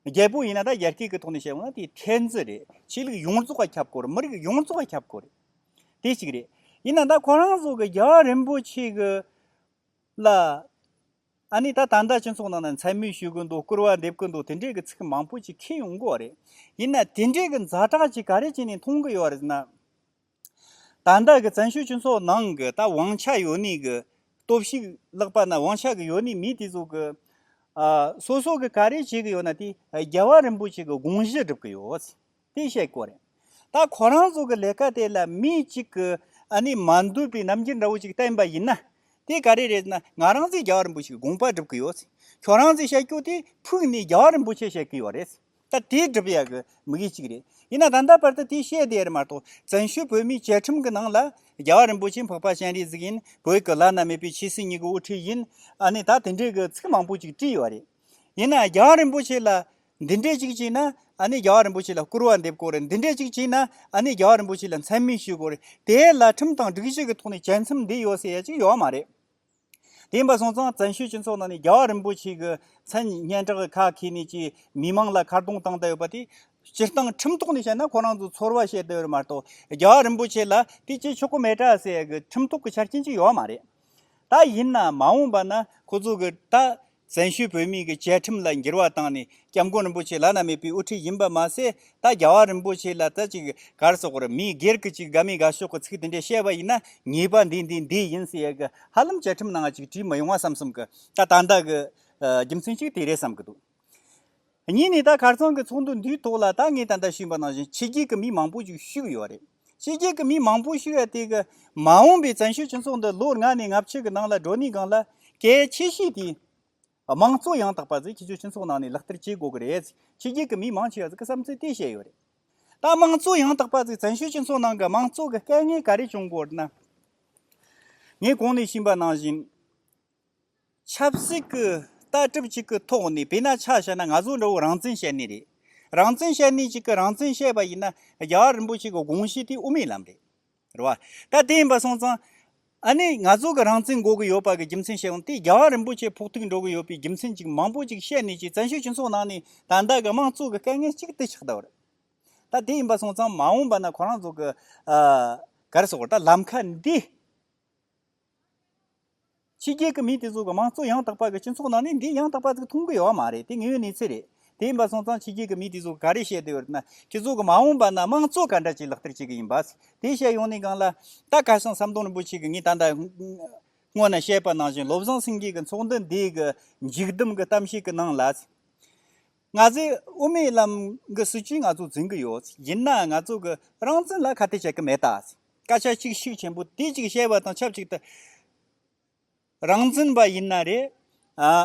རྒྱལ་པོ་ཡིན་ན་ད་ཡར་སྐྱེས་ཀྱི་ཐོག་ནས་བཤད་ན་དེ་ཕྲན་ཚེགས་རེད། ཆོས་ལུགས་ཡོངས་རྫོགས་ཁྱབ་དགོས་རེད་མི་རིགས་ཡོངས་རྫོགས་ཁྱབ་དགོས་རེད། དེ་ཅིག་རེད། ཡིན་ན་ད་ཁོ་རང་ཚོ་གི་རྒྱ་རིན་པོ་ཆེ་གི་ལ་ཨ་ནི་ད་ད་ལྟ་སྤྱི་ཚོགས་ནང་ན་མཚན་སྨོད་ཞུ་གི་འདུག་སྐུར་བ་འདེབས་ཀྱི་འདུག་དེ་འདྲའི་གི་ཚིག་མང་པོ་ཅིག་ཁེལ་ཡོང་དགོས་རེད། ཡིན་ན་དེ་འདྲའི་གི་འཛའ་དྲག་ཅིག་ག་རེ་བྱས་ནས་མཐོང་གི་ཡོད་རེད་ཟེར་ན། དང་བདག་གི་བཙན་བྱོལ་སྤྱི་ཚོགས་ནང་གི་ད་ཝང་ཆགས་ཡོད་ནི་གི་སྟོབས་ཤིག་ལག་པ་ན་ཝང་ཆགས་གི་ཡོད་ནི་མི་དེ་ཚོ་གི། སོ་སོ་གི་ག་རེ་བྱེད་གི་ཡོད་ན་དེ་རྒྱལ་བ་རིན་པོ་ཆེ་གི་དགོངས་གཞི་སྒྲུབ་གི་ཡོད། དེ་བཤད་དགོས་རེད། ད་ཁོ་རང་ཚོ་གི་ལས་ཀ་དེ་ལ་མི་གཅིག་གི་ཨ་ནི་མ་འདུས་པའི་རྣམ་འགྱུར་འདྲ་བོ་ཅིག་བསྟན་པ་ཡིན་ན། དེ་ག་རེ་རེད་ན་ང་རང་ཚོས་རྒྱལ་བ་རིན་པོ་ཆེ་གི་དགོངས་པ་སྒྲུབ་གི་ཡོད། ཁྱོད་རང་ཚོས་བཤད་རྒྱུ་དེ་ཕུགས་ནས་རྒྱལ་བ་རིན་པོ་ཆེ་བཤད་གི་ཡོད་རེད། ད་དེ་སྒྲུབ་ཡག་གི་མི་གཞི་གཅིག་རེད། ཡིན་ན་ད་ལྟ་བར་དུ་དེ་བཤད་བསྡད་ཡོད་མ་གཏོགས་བཙན་བྱོལ་བོད་མིའི་བཅའ་ཁྲིམས་ཀྱི་ནང་ལ། རྒྱལ་བ་རིན་པོ་ཆེ་འཕགས་པ་སྤྱན་རས་གཟིགས་ཡིན་བོད་ཀྱི་བླ་ན་མེད་པའི་ཆོས་སྲིད་གཉིས་ཀྱི་དབུ་ཁྲིད་ཡིན། ཨ་ནི་ད་དེ་འདྲའི་གི་ཚིག་མང་པོ་ཅིག་བྲིས་ཡོད་རེད། ཡིན་ན་རྒྱལ་བ་རིན་པོ་ཆེ་ལ་འདི་འདྲས་ཅིག་བྱས་ན་ཨ་ནི་རྒྱལ་བ་རིན་པོ་ཆེ་ལ་བསྐུར་བ་འདེབས་དགོས་རེད་འདི་འདྲས་ཅིག་བྱས་ན་ཨ་ནི་རྒྱལ་བ་རིན་པོ་ཆེ་ལ་མཚན་སྨད་ཞུས་དགོས་རེད་དེའི་ལ་ཁྲིམས་དང་སྒྲིག་གཞི་གི་ཐོག་ནས་བཅའ་མཚམས་འདི་ཡོད་ཟེར་ཡ་ཅིག་ཡོད་མ་རེད། དེ་ཡིན་པ་སོང་ཙང་བཙན་བྱོལ་སྤྱི་ཚོགས་ནང་ནས་རྒྱ་བ་རིན་པོ་ཆེ་གི་མཚན་སྙན་གྲགས་ཁ་ཁེ་ནས་ཀྱི་མི་དམངས་ལ་ཁ་རྡུང་བཏང་བསྡད་ཡོད་པ་དེ། སྤྱིར་བཏང་ཁྲིམས་ཐོག་ནས་བཤད་ན་ཁོ་རང་ཚོ་ཚོར་བ་བཤད་བསྡད་ཡོད་མ་གཏོགས་རྒྱ་བ་རིན་པོ་ཆེ་ལ་དེ་ཅི་ཆོ་ག་མེད་དྲག་ཟེར་ཡག་གི་ཁྲིམས་ཐོག་གི་ཆ་རྐྱེན་གཅིག་ཡོད་མ་རེད། ད་ཡིན་ན་མ་འོངས་པ་ན་ཁོ་ཚོ་གི་ད་བཙན་བྱོལ་བོད་མིའི་བཅའ་ཁྲིམས་ལ་འགྱུར་བ་བཏང་ནས་སྐྱབས་མགོན་རིན་པོ་ཆེ་བླ་ན་མེད་པའི་དབུ་ཁྲིད་ཡིན་པ་མ་ཟད་ད་རྒྱ་བ་རིན་པོ་ཆེ་ལ་ད་ཅིག་གར་སོགས་པར་མི་སྒེར་གྱི་ཅིག་དགའ་མི་དགའ་ཕྱོགས་ཀྱི་ཚིག་དེ་འདྲས་བཤད་པ་ཡིན་ན་ངེས་པ་འདི་འདི་འདི་ཡིན་ཟེར་ཡས་ཀྱི་ཧ་ལམ་བཅའ་ཁྲིམས་ནང་ཅིག་བྲིས་མི་ཡོང་བ་བསམ་བསམ་གྱི་ད་ད་ད་གྱི་རྒྱུ་མཚན་ཅིག་དེ་རེད་བསམ་གྱི་འདུག། གཉིས་ནས་ད་གར་ཚང་གི་ཚོགས་འདུ་འདིའི་ཐོག་ལ་ད་ངས་ད་ལྟ་ཤེས་པ་ནང་བཞིན་ཕྱི་རྒྱལ་གྱི་མི་མང་པོ་ཞིག་ཞུགས་ཡོད་རེད། ཕྱི་རྒྱལ་གྱི་མི་མང་པོ་ཞུགས་ཡ་དེ་གི། མ་འོངས་པའི་བཙན་བྱོལ་སྤྱི་ཚོགས་འདི་ལོ་ལྔ་ནས་ལྔ་བཅུ་གི་ནང་ལ་འགྲོ་གནས་གང་ལ་གལ་ཆེ་ཤོས་དེ། དམངས་གཙོ་ཡང་དག་པ་ཟིག་ཕྱི་བྱོལ་སྤྱི་ཚོགས་ནང་ནས་ལག་བསྟར་བྱེད་དགོས་ཀྱི་རེད་ཟིག་ཕྱི་རྒྱལ་གྱི་མི་མང་ཆེ་བ་ཟིག་གི་བསམ་ཚུལ་དེ་བཤད་ཡོད་རེད། ད་དམངས་གཙོ་ཡང་དག་པ་ཟིག་བཙན་བྱོལ་སྤྱི་ཚོགས་ནང་གི་དམངས་གཙོ་གི་དཀལ་ངལ་ག་རེ་བྱུང་དགོས་ན། ངས་གོང་ནས་ཤེས་པ་ནང་བཞིན། ཆབ་སྲིད་ཀྱི་ལྟ་གྲུབ་ཅིག་གི་ཐོག་ནས་བོད་ན་ཆ་བཞག་ན་ང་ཚོ་འདྲ་བོ་རང་བཙན་བཤད་ནི་རེད། རང་བཙན་བཤད་ནི་ཅིག་གི་རང་བཙན་བཤད་པ་ཡིན་ན་རྒྱ་གར་རིན་པོ་ཆེ་གི་དགོངས་གཞི་དེ་དབུ་མའི་ལམ་རེད། རེད་བ། ད་དེ་ཡིན་པ་སོང་ཙང། ཨ་ནི་ང་ཚོ་གི་རང་བཙན་འགོག་གི་ཡོད་པ་གི་རྒྱུ་མཚན་བཤད་ཨང་དེ་རྒྱ་གར་རིན་པོ་ཆེ་ཕོག་ཐུག་འགྲོ་གི་ཡོད་པའི་རྒྱུ་མཚན་ཅིག་མང་པོ་ཅིག་བཤད་ནི་ཅིག་བཙན་བྱོལ་སྤྱི་ཚོགས་ནང་ནས་ད་ལྟ་གི་དམངས་གཙོ་གི་དཀའ་ངལ་ཅིག་དེ་ཆགས་གདའ་བ་རེད། ད་དེ་ཡིན་པ་སོང་ཙང་མ་འོངས་པ་ན་ཁོ་རང་ཚོ་གི། གར་སོགས་ད་ལམ་ཁ་འདི། ཕྱི་རྒྱལ་གྱི་མི་དེ་ཚོ་གི་མང་གཙོ་ཡང་དག་པ་གི་སྤྱི་ཚོགས་ནང་ནས་འདི་ཡང་དག་པ་ཚིག་མཐོང་གི་ཡོད་མ་རེད་དེ་ངའི་གནས་ཚུལ་རེད་དེ་ཡིན་པ་སོང་ཙང་ཕྱི་རྒྱལ་གྱི་མི་དེ་ཚོ་ག་རེ་བཤད་དེ་ཡོད་ན་ཁྱེད་ཚོ་གི་མ་འོངས་པ་ན་མང་གཙོ་ག་འདྲ་ཅིག་ལག་བསྟར་བྱེད་གི་ཡིན་པ་དེ་བཤད་ཡོང་ནས་གང་ལ་ད་ག་སང་ཟམ་གདོང་རིན་པོ་ཆེ་གི་ངས་ད་ལྟ་སྔོན་ན་བཤད་པ་ནང་བཞིན་བློ་བཟང་སེང་གེ་གི་ཚོགས་འདུ་འདི་གི་མཇུག་བསྡོམས་གི་གཏམ་བཤད་གི་ནང་ལ། ང་ཚོས་དབུ་མའི་ལམ་གྱི་སྲིད་བྱུས་ང་ཚོ་འཛིན་གྱི་ཡོད། ཡིན་ནའང་ང་ཚོ་གི་རང་བཙན་ལ་ཁ་གཏད་བྱེད་ཀྱི་མེད། སྐད་ཆ་གཅིག་ཤུགས་ཆེན་པོ་དེ་གཅིག་བཤད་པ་དང་ཆབས་ཅིག་ཏུ། རང་བཙན་པ་ཡིན་ན་རེད།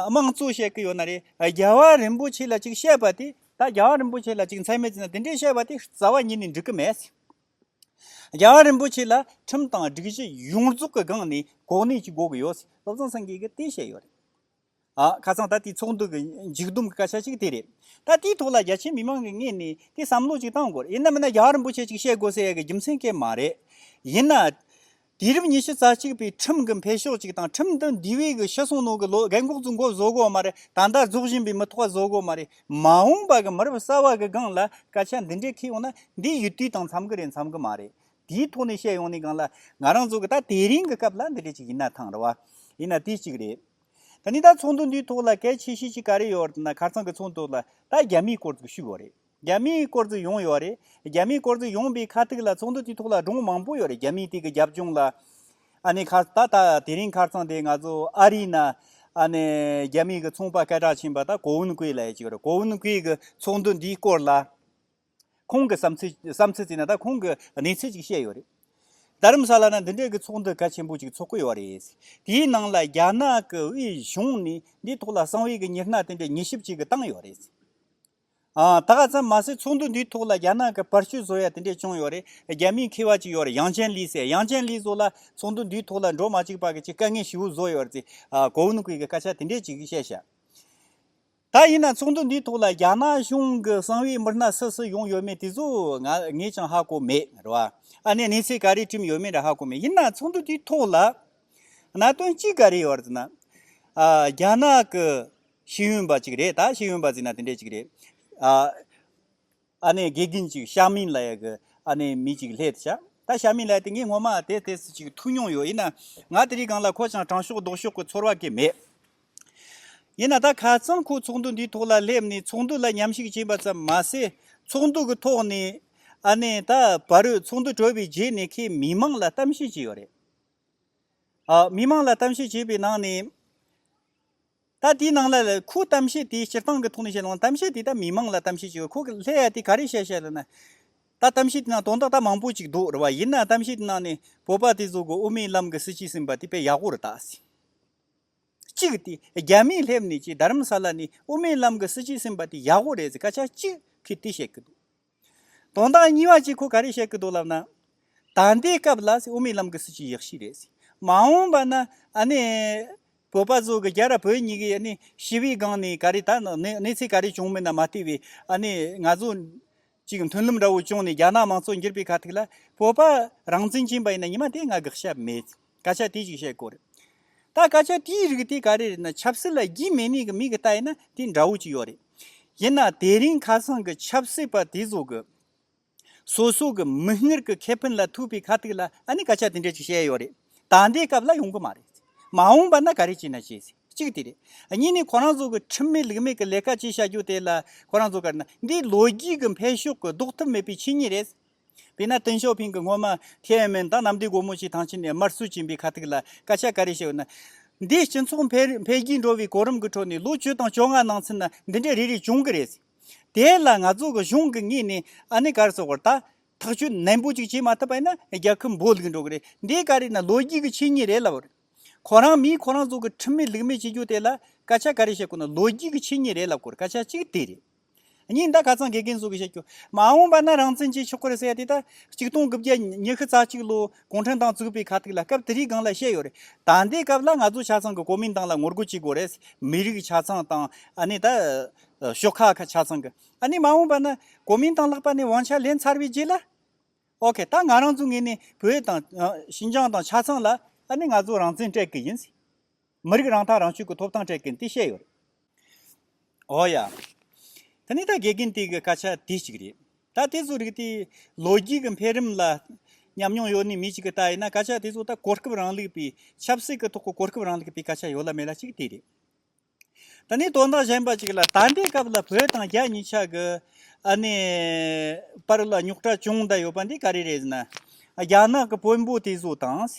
དམངས་གཙོ་བཤད་ཀྱི་ཡོད་ན་རེད། རྒྱལ་བ་རིན་པོ་ཆེ་ལ་གཅིག་བཤད་པ་དེ། ད་རྒྱལ་བ་རིན་པོ་ཆེ་ལ་གཅིག་མཚན་སྨད་བྱས་ན་དེ་འདྲའི་བཤད་པ་དེ་རྩ་བ་ཉིད་ནས་འགྲིག་གི་མེད། རྒྱལ་བ་རིན་པོ་ཆེ་ལ་ཁྲིམས་དང་སྒྲིག་གཞི་ཡོངས་རྫོགས་ཀྱི་སྒང་ནས་གོ་གནས་གཅིག་དགོས་ཀྱི་ཡོད། བློ་བཟང་སེང་གེས་ཀྱི་དེ་བཤད་ཡོད་རེད། ཁ་སང་ད་དེའི་ཚོགས་འདུ་གི་མཇུག་བསྡོམས་ཀྱི་སྐད་ཆ་ཞིག་དེ་རེད། ད་དེའི་ཐོག་ལ་རྒྱ་ཆེའི་མི་མང་གི་ངོས་ནས་དེ་བསམ་བློ་ཅིག་གཏང་དགོས། ཡིན་ནམ་མིན་ན་རྒྱ་གར་རིན་པོ་ཆེ་ཅིག་བཤད་དགོས་ཟེར་ཡ་གི་རྒྱུ་མཚན་སྐད་མ་རེད། ཡིན་ན། དུས་རབས་ཉི་ཤུ་རྩ་གཅིག་པའི་ཁྲིམས་གི་འཕེལ་ཕྱོགས་ཅིག་དང་ཁྲིམས་འདི་འདི་བས་གི་ཤི་གསོན་ནང་གི་ལོ་རྒན་འགོག་རྫུན་འགོག་བཟོ་དགོས་མ་རེད་ད་ལྟ་རྫོགས་བཞིན་པའི་མི་ཐོག་བཟོ་དགོས་མ་རེད། མ་འོངས་པ་གི་མི་རབས་གསར་བ་གི་སྒང་ལ་སྐད་ཆ་འདི་འདྲའི་ཁེལ་ཡོང་ན་འདི་ཡུལ་དུས་དང་འཚམ་གི་རེད་འཚམ་གི་མ་རེད། དེའི་ཐོག་ནས་བཤད་ཡོང་ནས་སྒང་ལ་ང་རང་ཚོ་གི་ད་དེ་རིང་གི་སྐབས་ལ་འདི་འདྲ་ཅིག་ཡིན་ན་ཐང་རེད་བ། ཡིན་ན་དེ་གཅིག་རེད། ད་ནི་ད་ཚོགས་འདུ་འདིའི་ཐོག་ལ་གལ་ཆེ་ཤོས་ཅིག་ག་རེ་ཡོད་དེ་ན་ཁར་ཚང་གི་ཚོགས་འདུ་ལ་ད་རྒྱ་མིའི་སྐོར་ཙིག་ཞུས་ཡོད་རེད་རྒྱ་མིའི་སྐོར་ཙིག་ཡོང་ཡོད་རེད་རྒྱ་མིའི་སྐོར་ཙིག་ཡོང་པའི་ཁ་ཐིག་ལ་ཚོགས་འདུ་དེའི་ཐོག་ལ་སྒྲུང་མང་པོ་ཡོད་རེད་རྒྱ་མིའི་དེ་གི་རྒྱབ་ལྗོངས་ལ་ཨ་ནི་ཁར་ད་ད་དེ་རིང་ཁར་ཚང་དེ་ང་ཚོ་ཨ་རིའི་ན་ཨ་ནི་རྒྱ་མིའི་གི་ཚོང་པ་སྐད་གྲགས་ཆེན་པ་ད་གོ་ཝུན་ཀུའེ་ལ་ཡེ་ཅིག་རེད་གོ་ཝུན་ཀུའེ་གི་ཚོགས་འདུ་འདིའི་སྐོར་ལ། ཁོང་གི་བསམ་ཚུལ་བསམ་ཚུལ་བརྩིས་ན་ད་ཁོང་གི་གནས་ཚུལ་ཅིག་བཤད་ཡོད་རེད། རྡ་རམ་ས་ལ་ན་འདི་འདྲའི་གི་ཚོགས་འདུ་གལ་ཆེན་པོ་ཅིག་ཚོགས་ཀི་ཡོད་རེད། དེའི་ནང་ལ་རྒྱ་ནག་གི་དབུས་གཞུང་ནས་འདིའི་ཐོག་ལ་གསང་བའི་གི་ཉེར་སྣ་དེ་འདྲའི་ཉེ་ཞིབ་ཅིག་གི་བཏང་ཡོད་རེད། ད་ད་མ་ཟད་ཚོགས་འདུ་འདིའི་ཐོག་ལ་རྒྱ་ནག་གི་པར་བཤུ་བཟོ་ཡ་དེ་འདྲས་བྱུང་ཡོད་རེད། རྒྱ་མིའི་མཁས་བ་ཅིག་ཡོད་རེད་ཡང་ཅན་ལི་ཟེར་ཡང་ཅན་ལི་ཟོ་ལ་ཚོགས་འདུ་འདིའི་ཐོག་ལ་འགྲོ་མ་ཅིག་པ་གི་ཅིག་དཀའ་ངལ་ཞི་བོ་བཟོ་ཡོད་རེད། གོ་བོན་གི་གི་སྐད་ཆ་དེ་འདྲས་ཅིག་གི་བཤད་བྱ། ད་ཡིན་ན་ཚོགས་འདུ་འདིའི་ཐོག་ལ་རྒྱ་ནག་གཞུང་གི་གསང་བའི་མི་སྣ་སུ་སུ་ཡོང་ཡོད་མེད་དེ་ཚོ་ངས་ཀྱང་ཧ་གོ་མེད་རེད། ཨ་ནེ་གནས་ཚད་ག་རེ་བཀྲིམས་ཡོད་མེད་རེ་ཧ་གོ་མེད་ཡིན་ན་ཚོགས་འདུ་དེའི་ཐོག་ལ། གནད་དོན་གཅིག་ག་རེ་ཡོད་རེད་ཟེར་ན། རྒྱ་ནག་གི་ཤེས་ཡོན་པ་གཅིག་རེད་ད་ཤེས་ཡོན་པ་ཟེར་ན་དེ་འདྲ་གཅིག་རེད། ཨ་ནེ་དགེ་རྒན་གཅིག་ཤ་མིན་ལ་ཡ་གི་ཨ་ནེ་མི་གཅིག་ལྷད་དུ་བཞག་ད་ཤ་མིན་ལ་དེ་ངས་ངོ་མ་དེ་དེ་སུ་གཅིག་ཐུག་མྱོང་ཡོད་ཡིན་ན་ང་དེ་རིང་གང་ལ་ཁོ་ཅང་དྲང་ཤོག་ལྡོག་ཤོག་གི་ཚོར་བ་སྐྱེས་མེད། ཡིན་ན་ད་ཁ་ཚང་ཁོ་ཚོགས་འདུ་འདིའི་ཐོག་ལ་སླེབས་ནས་ཚོགས་འདུ་ལ་ཉམས་ཞིག་བྱིན་པ་ཙམ་མ་ཟད་ཚོགས་འདུ་གི་ཐོག་ནས་ཨ་ནེ་ད་བར་རོད་ཚོགས་འདུ་གྲོལ་བའི་རྗེས་ནས་ཁོས་མི་མང་ལ་གཏམ་བཤད་བྱས་ཡོད་རེད། མི་མང་ལ་གཏམ་བཤད་བྱས་པའི་ནང་ནས། ད་དེའི་ནང་ལ། ཁོའི་གཏམ་བཤད་དེའི་སྤྱིར་བཏང་གི་ཐོག་ནས་བཤད་ལོང་གཏམ་བཤད་དེ་ད་མི་མང་ལ་གཏམ་བཤད་བྱས་པ་ཁོ་གི་ལྷད་ཡ་དེ་ག་རེ་བཤད་བཤད་ལ་ན། ད་གཏམ་བཤད་དེ་ནང་དོན་དག་ད་མང་པོ་ཅིག་འདུག་རེད་བ་ཡིན་ན་གཏམ་བཤད་དེ་ནང་ནས་བོད་པ་དེ་ཚོ་གི་དབུ་མའི་ལམ་གི་སྲིད་བྱུས་ཟིན་པ་དེ་དཔེ་ཡག་པོ་རེད་ད་ཟེར། གཅིག་དེ་རྒྱ་མིས་སླེབས་ནས་ཀྱི་རྡ་རམ་ས་ལ་ནས་དབུ་མའི་ལམ་གི་སྲིད་བྱུས་ཟིན་པ་དེ་ཡག་པོ་རེད་ཟེར་སྐད་ཆ་གཅིག་གིས་དེ་བཤད་ཀྱི་འདུག། དོན་དག་གཉིས་པ་གཅིག་ཁོ་ག་རེ་བཤད་ཀི་འདུག་ལབ་ན། ད་འདའི་སྐབས་ལ་དབུ་མའི་ལམ་གི་སྲིད་བྱུས་ཡག་ཤོས་རེད། མ་འོངས་པ་ན་ཨ་ནི། བོད་པ་ཚོ་གི་རྒྱ་ར་བོད་གཉིས་ཀྱི་ཨ་ནི་ཞི་བའི་སྒང་ནས་ག་རེ་ད་གནས་ཚེ་ག་རེ་བྱུང་མིན་ན་མ་ལྟོས་པའི་ཨ་ནི་ང་ཚོ། ཅིག་མཐུན་ལམ་འདྲ་བོ་བྱུང་ནས་རྒྱ་ནག་མང་གཙོ་འགྱུར་པའི་ཁ་ཐུག་ལ་བོད་པ་རང་བཙན་བྱིན་པ་ཡིན་ན་ཉི་མ་དེ་ང་དགག་བྱ་མེད། སྐད་ཆ་དེ་ཅིག་བཤད་དགོས་རེད། ད་སྐད་ཆ་དེའི་རིགས་དེ་ག་རེ་རེད་ན་ཆབ་སྲིད་ལ་རྒྱུས་མེད་མེད་གི་མིག་གི་ལྟ་ཡིན་ན་དེ་འདྲ་བོ་ཅིག་ཡོད་རེད། ཡིན་ན་དེ་རིང་ཁ་སང་གི་ཆབ་སྲིད་པ་དེ་ཚོ་གི་སོ་སོ་གི་མིག་སྔར་གི་ཁེ་ཕན་ལ་ཐུག་པའི་ཁ་ཐུག་ལ་ཨ་ནི་སྐད་ཆ་དེ་འདྲ་ཅིག་བཤད་ཡོད་རེད། ད་ལྟའི་སྐབས་ལ་ཡོང་གི་མ་རེད། མ་འོངས་པ་ན་ག་རེ་བྱེད་ན་བྱས། གཅིག་དེ་རེད། གཉིས་ནི་ཁོ་རང་ཚོ་གི་ཁྲིམས་མེད་ལུགས་མེད་གི་ལས་ཀ་བྱེད་བྱ་རྒྱུ་དེ་ལ་ཁོ་རང་ཚོ་ག་རེ་ན་འདི་ལོ་རྒྱུས་གི་འཕེལ་ཕྱོགས་གི་ལྡོག་ཐུབ་མེད་པའི་ཆོས་ཉིད་རེད། དཔེར་ན་ཏིན་ཞའོ་ཕིང་གིས་སྔོན་མ་ཐེ་ཝན་མན་ཏང་ནམ་ཟླའི་སྒོར་མོ་ཞིག་ཐང་ཆེན་ནས་དམར་གསོད་བྱས་པའི་ཁ་ཐུག་ལ་སྐད་ཆ་ག་རེ་བཤད་ཡོད་ན། འདིས་སྤྱི་ཚོགས་འཕེལ་རྒྱས་འགྲོ་བའི་གོ་རིམ་གྱི་ཁྲོད་ནས་ལོ་བཅུ་དང་བཅོ་ལྔ་ནང་ཚུན་ན་འདི་འདྲའི་རེ་རེ་བྱུང་གི་རེད། དེ་ལ་ང་ཚོ་གི་གཞུང་གིས་ངེད་ནས་ཨ་ནེ་གར་སོགས་བར་ཐག་ཐག་གཅོད་ནན་པོ་ཅིག་བྱེད་མ་ཐུབ་པ་ཡིན་ན་རྒྱལ་ཁབ་འབོར་ལུག་འགྲོ་གི་རེད་འདི་ག་རེ་ན་ལོ་རྒྱུས་ཀྱི་ཆོས་ཉིད་རེད་ལབ་དགོས། ཁོ་རང་མིས་ཁོ་རང་ཚོ་གི་ཁྲིམས་མེད་ལུགས་མེད་བྱེད་རྒྱུ་དེ་ལ་སྐད་ཆ་ག་རེ་བཤད་དགོས་ན་ལོ་རྒྱུས་ཀྱི་ཆོས་ཉིད་རེད་ལབ་དགོས་སྐད་ཆ་གཅིག་དེ་རེད། ཉིན་ཟླ་ག་ཚང་དགེ་རྒན་གཟུགས་ཀྱི་བཤད་རྒྱུ། མ་འོངས་པ་ན་རང་བཙན་གྱི་ཆོས་སྐོར་བསལ་ཡ་དེ་ལྟར། གཅིག་སྟོང་དགུ་བརྒྱ་ཉི་ཤུ་རྩ་གཅིག་ལོ་གུང་ཁྲན་ཏང་བཙུགས་པའི་ཁ་ཐུག་ལ་སྐབས་དེ་རིགས་སྒང་ལ་བཤད་ཡོད་རེད་ད། འདི་སྐབས་ལ་ང་ཚོ་ཆ་ཚང་གི་གོ་མིན་ཏང་ལ་ངོ་རྒོལ་བྱེད་དགོས་རེད། མི་རིགས་ཆ་ཚང་དང་ཨ་ནི་ད། ཤོག་ཁག་ཁ་ཆ་ཚང་གི། ཨ་ནི་མ་འོངས་པ་ན་གོ་མིན་ཏང་ལྷག་པ་ནས་དབང་ཆ་ལེན་ཚར་བའི་རྗེས་ལ། ཨོ་ཁེ་ད་ང་རང་ཚོ་ངེས་ནས་བོད་དང། ཤིན་ཅང་དང་ཆ་ཚང་ལ་ཨ་ནི་ང་ཚོ་རང་བཙན་སྤྲད་གི་ཡིན། མི་རིགས་རང་ཐག་རང་གཅོད་ཀྱི་ཐོབ་ཐང་སྤྲད་མཁན་དེ་བཤད་ཡོད་རེད། འོ་ཡ། ད་ནི་ད་དགེ་རྒན་དེ་གི་སྐད་ཆ་དེ་གཅིག་རེད། ད་དེ་ཚོ་རིགས་དེ་ལོ་རྒྱུས་ཀྱི་འཕེལ་རིམ་ལ་ཉམས་མྱོང་ཡོད་ནི་མི་གཅིག་གི་ལྟ་ཡིན་ན་སྐད་ཆ་དེ་ཚོ་ད་གོ་སྐབས་རང་ལུགས་པའི་ཆབ་སྲིད་ཀྱི་ཐོག་གི་གོ་སྐབས་རང་ལུགས་པའི་སྐད་ཆ་ཡོད་ལ་མེད་ལ་གཅིག་དེ་རེད། ད་ནི་དོན་དག་གཞན་པ་གཅིག་ལ་ད་ལྟའི་སྐབས་ལ་བོད་དང་རྒྱ་གཉིས་ཆ་གི་ཨ་ནི་བར་ལ་རྙོག་དྲ་ཅུང་འདྲ་ཡོད་པ་འདི་ག་རེ་རེད་ཟེར་ན། རྒྱ་ནག་གི་དཔོན་པོ་དེ་ཚོ་དང།